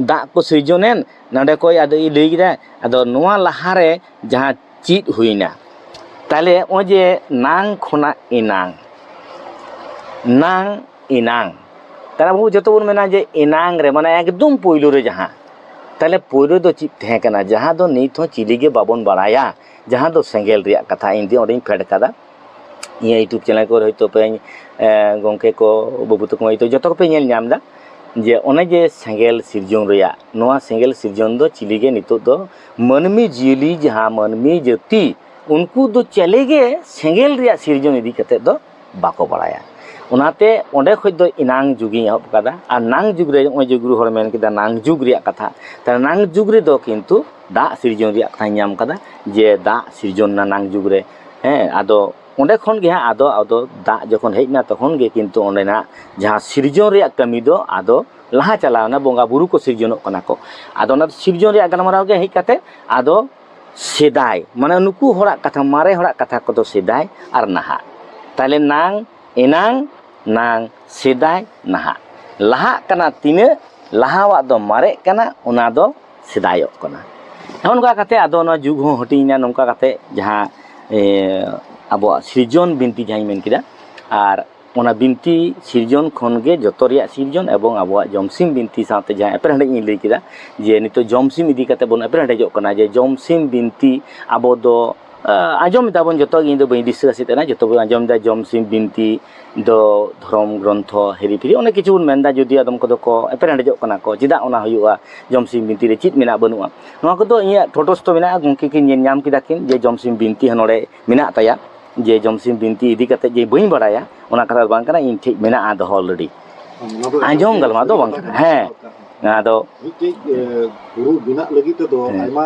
ᱫᱟᱜ ᱠᱚ ᱥᱤᱨᱡᱚᱱᱮᱱ ᱱᱚᱰᱮ ᱠᱷᱚᱡ ᱟᱫᱚᱭ ᱞᱟᱹᱭ ᱠᱮᱫᱟ ᱟᱫᱚ ᱱᱚᱣᱟ ᱞᱟᱦᱟᱨᱮ ᱡᱟᱦᱟᱸ ᱪᱮᱫ ᱦᱩᱭᱱᱟ ᱛᱟᱦᱚᱞᱮ ᱱᱚᱜᱼᱚᱭ ᱡᱮ ᱱᱟᱝ ᱠᱷᱚᱱᱟᱜ ᱮᱱᱟᱝ ᱱᱟᱝ ᱮᱱᱟᱝ ᱛᱟᱦᱚᱞᱮ ᱟᱵᱚ ᱡᱚᱛᱚ ᱵᱚᱱ ᱢᱮᱱᱟ ᱡᱮ ᱮᱱᱟᱝ ᱨᱮ ᱢᱟᱱᱮ ᱮᱠᱫᱚᱢ ᱯᱳᱭᱞᱳ ᱨᱮ ᱡᱟᱦᱟᱸ ᱛᱟᱦᱚᱞᱮ ᱯᱳᱭᱞᱳ ᱫᱚ ᱪᱮᱫ ᱛᱟᱦᱮᱸ ᱠᱟᱱᱟ ᱡᱟᱦᱟᱸ ᱫᱚ ᱱᱤᱛ ᱦᱚᱸ ᱪᱤᱞᱤ ᱜᱮ ᱵᱟᱵᱚᱱ ᱵᱟᱲᱟᱭᱟ ᱡᱟᱦᱟᱸ ᱫᱚ ᱥᱮᱸᱜᱮᱞ ᱨᱮᱭᱟᱜ ᱠᱟᱛᱷᱟ ᱤᱧ ᱫᱚ ᱚᱸᱰᱮᱧ ᱯᱷᱮᱰ ᱠᱟᱫᱟ ᱤᱧᱟᱹᱜ ᱤᱭᱩᱴᱩᱵᱽ ᱪᱮᱱᱮᱞ ᱠᱚᱨᱮ ᱦᱚᱭᱛᱳ ᱯᱮ ᱜᱚᱢᱠᱮ ᱠᱚ ᱵᱟᱹᱵᱩ ᱛᱟᱠᱚ ᱢᱟᱹᱭ ᱛᱟᱠᱚ ᱡᱚᱛᱚ ᱠᱚᱯᱮ ᱧᱮᱞ ᱧᱟᱢ ᱮᱫᱟ ᱡᱮ ᱚᱱᱮ ᱡᱮ ᱥᱮᱸᱜᱮᱞ ᱥᱤᱨᱡᱚᱱ ᱨᱮᱭᱟᱜ ᱱᱚᱣᱟ ᱥᱮᱸᱜᱮᱞ ᱥᱤᱨᱡᱚᱱ ᱫᱚ ᱪᱤᱞᱤ ᱜᱮ ᱱᱤᱛᱚᱜ ᱫᱚ ᱢᱟᱹᱱᱢᱤ ᱡᱤᱭᱟᱹᱞᱤ ᱡᱟᱦᱟᱸ ᱢᱟᱹᱱᱢᱤ ᱡᱟᱹᱛᱤ ᱩᱱᱠᱩ ᱫᱚ ᱪᱤᱞᱤ ᱜᱮ ᱥᱮᱸᱜᱮᱞ ᱨᱮᱭᱟᱜ ᱥᱤᱨᱡᱚᱱ ᱤᱫᱤ ᱠᱟᱛᱮ ᱫᱚ ᱵᱟᱠᱚ ᱵᱟᱲᱟᱭᱟ ᱚᱱᱟᱛᱮ ᱚᱸᱰᱮ ᱠᱷᱚᱱ ᱫᱚ ᱮᱱᱟᱝ ᱡᱩᱜᱽ ᱤᱧ ᱮᱦᱚᱵ ᱟᱠᱟᱫᱟ ᱟᱨ ᱱᱟᱝ ᱡᱩᱜᱽ ᱨᱮ ᱱᱚᱜᱼᱚᱭ ᱡᱮ ᱜᱩᱨᱩ ᱦᱚᱲᱮ ᱢᱮᱱ ᱠᱮᱫᱟ ᱱᱟᱝ ᱡᱩᱜᱽ ᱨᱮᱭᱟᱜ ᱠᱟᱛᱷᱟ ᱛᱟᱦᱞᱮ ᱱᱟᱝ ᱡᱩᱜᱽ ᱨᱮᱫᱚ ᱠᱤᱱᱛᱩ ᱫᱟᱜ ᱥᱤᱨᱡᱚᱱ ᱨᱮᱭᱟᱜ ᱠᱟᱛᱷᱟᱧ ᱧᱟᱢ ᱟᱠᱟᱫᱟ ᱡᱮ ᱫᱟᱜ ᱥᱤᱨᱡᱚᱱ ᱮᱱᱟ ᱱᱟᱝ ᱡᱩᱜᱽ ᱨᱮ ᱦᱮᱸ ᱟᱫᱚ ᱚᱱᱰᱮ ᱠᱷᱚᱱ ᱜᱮ ᱟᱫᱚ ᱟᱫᱚ ᱫᱟᱜ ᱡᱚᱠᱷᱚᱱ ᱦᱮᱡ ᱮᱱᱟ ᱛᱚᱠᱷᱚᱱ ᱜᱮ ᱠᱤᱱᱛᱩ ᱚᱱᱰᱮᱱᱟᱜ ᱡᱟᱦᱟᱸ ᱥᱤᱨᱡᱚᱱ ᱨᱮᱭᱟᱜ ᱠᱟᱹᱢᱤ ᱫᱚ ᱟᱫᱚ ᱞᱟᱦᱟ ᱪᱟᱞᱟᱣ ᱮᱱᱟ ᱵᱚᱸᱜᱟ ᱵᱳᱨᱳ ᱠᱚ ᱥᱤᱨᱡᱚᱱᱚᱜ ᱠᱟᱱᱟ ᱠᱚ ᱟᱫᱚ ᱚᱱᱟ ᱥᱤᱨᱡᱚᱱ ᱨᱮᱭᱟᱜ ᱜᱟᱞᱢᱟᱨᱟᱣ ᱜᱮ ᱦᱮᱡ ᱠᱟᱛᱮᱜ ᱟᱫᱚ ᱥᱮᱫᱟᱭ ᱢᱟᱱᱮ ᱱᱩᱠᱩ ᱦᱚᱲᱟᱜ ᱠᱟᱛᱷᱟ ᱢᱟᱨᱮ ᱦᱚᱲᱟᱜ ᱠᱟᱛᱷᱟ ᱠᱚᱫᱚ ᱥᱮᱫᱟᱭ ᱟᱨ ᱱᱟᱦᱟᱜ ᱛᱟᱦᱚᱞᱮ ᱱᱟᱝ ᱮᱱᱟᱝ ᱱᱟᱝ ᱥᱮᱫᱟᱭ ᱱᱟᱦᱟᱜ ᱞᱟᱦᱟᱜ ᱠᱟᱱᱟ ᱛᱤᱱᱟᱹᱜ ᱞᱟᱦᱟᱣᱟᱜ ᱫᱚ ᱢᱟᱨᱮᱜ ᱠᱟᱱᱟ ᱚᱱᱟ ᱫᱚ ᱥᱮᱫᱟᱭᱚᱜ ᱠᱟᱱᱟ ᱱᱚᱜᱼᱚ ᱱᱚᱝᱠᱟ ᱠᱟᱛᱮ ᱟᱫᱚ ᱱᱚᱣᱟ ᱡᱩᱜᱽ ᱦᱚᱸ ᱦᱟᱹᱴᱤᱧ ᱮᱱᱟ ᱱᱚᱝᱠᱟ ᱠᱟᱛᱮ ᱡᱟᱦᱟᱸ ᱟᱵᱚᱣᱟᱜ ᱥᱤᱨᱡᱚᱱ ᱵᱤᱱᱛᱤ ᱡᱟᱦᱟᱸᱧ ᱢᱮᱱ ᱠᱮᱫᱟ ᱟᱨ ᱚᱱᱟ ᱵᱤᱱᱛᱤ ᱥᱤᱨᱡᱚᱱ ᱠᱷᱚᱱ ᱜᱮ ᱡᱚᱛᱚ ᱨᱮᱭᱟᱜ ᱥᱤᱨᱡᱚᱱ ᱮᱵᱚᱝ ᱟᱵᱚᱣᱟᱜ ᱡᱚᱢᱥᱤᱢ ᱵᱤᱱᱛᱤ ᱥᱟᱶᱛᱮ ᱡᱟᱦᱟᱸ ᱮᱯᱮᱨ ᱦᱮᱸᱰᱮᱡ ᱤᱧ ᱞᱟᱹᱭ ᱠᱮᱫᱟ ᱡᱮ ᱱᱤᱛᱚᱜ ᱡᱚᱢᱥᱤᱢ ᱤᱫᱤ ᱠᱟᱛᱮ ᱵᱚᱱ ᱮᱯᱮᱨ ᱦᱮᱸᱰᱮᱡᱚᱜ ᱠᱟᱱᱟ ᱡᱮ ᱡᱚᱢᱥᱤᱢ ᱵᱤᱱᱛᱤ ᱟᱵᱚ ᱫᱚ ᱟᱸᱡᱚᱢ ᱮᱫᱟᱵᱚᱱ ᱡᱚᱛᱚ ᱜᱮ ᱤᱧ ᱫᱚ ᱵᱟᱹᱧ ᱫᱤᱥᱟᱹ ᱦᱚᱪᱚᱭᱮᱫ ᱛᱟᱦᱮᱱᱟ ᱡᱚᱛᱚ ᱜᱮᱵᱚᱱ ᱟᱸᱡᱚᱢ ᱮᱫᱟ ᱡᱚᱢᱥᱤᱢ ᱵᱤᱱᱛᱤ ᱫᱚ ᱫᱷᱚᱨᱚᱢ ᱜᱨᱚᱱᱛᱷᱚ ᱦᱤᱨᱤ ᱯᱷᱤᱨᱤ ᱚᱱᱮᱠ ᱠᱤᱪᱷᱩ ᱵᱚᱱ ᱢᱮᱱᱫᱟ ᱡᱩᱫᱤ ᱟᱫᱚᱢ ᱠᱚᱫᱚ ᱠᱚ ᱮᱯᱮᱨ ᱦᱮᱰᱮᱡᱚᱜ ᱠᱟᱱᱟ ᱠᱚ ᱪᱮᱫᱟᱜ ᱚᱱᱟ ᱦᱩᱭᱩᱜᱼᱟ ᱡᱚᱢ ᱥᱤᱢ ᱵᱤᱱᱛᱤ ᱨᱮ ᱪᱮᱫ ᱢᱮᱱᱟᱜᱼᱟ ᱵᱟᱹᱱᱩᱜᱼᱟ ᱱᱚᱣᱟ ᱠᱚᱫᱚ ᱤᱧᱟᱹᱜ ᱴᱚᱴᱚᱥᱛᱷ ᱢᱮᱱᱟᱜᱼᱟ ᱜᱚᱢᱠᱮ ᱠᱤᱱ ᱧᱮᱞ ᱧᱟᱢ ᱠᱮᱫᱟ ᱠᱤᱱ ᱡᱮ ᱡᱚᱢ ᱥᱤᱢ ᱵᱤᱱᱛᱤ ᱦᱚᱸ ᱱᱚᱰᱮ ᱢᱮᱱᱟᱜ ᱛᱟᱭᱟ ᱡᱮ ᱡᱚᱢ ᱥᱤᱢ ᱵᱤᱱᱛᱤ ᱤᱫᱤ ᱠᱟᱛᱮ ᱡᱮ ᱵᱟᱹᱧ ᱵᱟᱲᱟᱭᱟ ᱚᱱᱟ ᱠᱟᱛᱷᱟ ᱫᱚ ᱵᱟᱝ ᱠᱟᱱᱟ ᱤᱧ ᱴᱷᱮᱡ ᱢᱮᱱᱟᱜᱼᱟ ᱫᱚᱦᱚ ᱚᱞᱨᱮᱰᱤ ᱟᱸᱡᱚᱢ ᱜᱟᱞᱢᱟᱨᱟᱣ ᱫᱚ ᱵᱟᱝ ᱠᱟᱱᱟ ᱦᱮᱸ ᱟᱫᱚ ᱢᱤᱫᱴᱮᱡ
ᱜᱩᱨᱩ ᱵᱮᱱᱟᱜ ᱞᱟᱹᱜᱤᱫ ᱛᱮᱫᱚ ᱟᱭᱢᱟ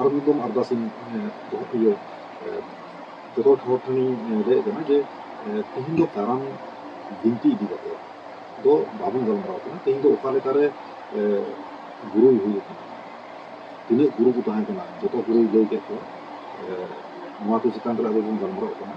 ᱟᱨ ᱢᱤᱫ ᱫᱚᱢ ᱟᱨᱫᱟᱥ ᱤᱧ ᱫᱚᱦᱚ ᱤᱭᱟᱹ ᱡᱚᱛᱚ ᱦᱚᱲ ᱴᱷᱮᱱᱤᱧ ᱞᱟᱹᱭᱮᱫ ᱠᱟᱱᱟ ᱡᱮ ᱛᱮᱦᱮᱧ ᱫᱚ ᱠᱟᱨᱟᱢ ᱵᱤᱱᱛᱤ ᱤᱫᱤ ᱠᱟᱛᱮ ᱫᱚ ᱵᱟᱵᱚᱱ ᱜᱟᱞᱢᱟᱨᱟᱣ ᱠᱟᱱᱟ ᱛᱮᱦᱮᱧ ᱫᱚ ᱚᱠᱟ ᱞᱮᱠᱟᱨᱮ ᱜᱩᱨᱩᱭ ᱦᱩᱭ ᱟᱠᱟᱱᱟ ᱛᱤᱱᱟᱹᱜ ᱜᱩᱨᱩ ᱠᱚ ᱛᱟᱦᱮᱸ ᱠᱟᱱᱟ ᱡᱚᱛᱚ ᱜᱩᱨᱩᱭ ᱞᱟᱹᱭ ᱠᱮᱫ ᱠᱚᱣᱟ ᱱᱚᱣᱟ ᱠᱚ ᱪᱮᱛᱟᱱ ᱨᱮ ᱟᱵᱚ ᱵᱚᱱ ᱜᱟᱞᱢᱟᱨᱟᱣ ᱠᱟᱱᱟ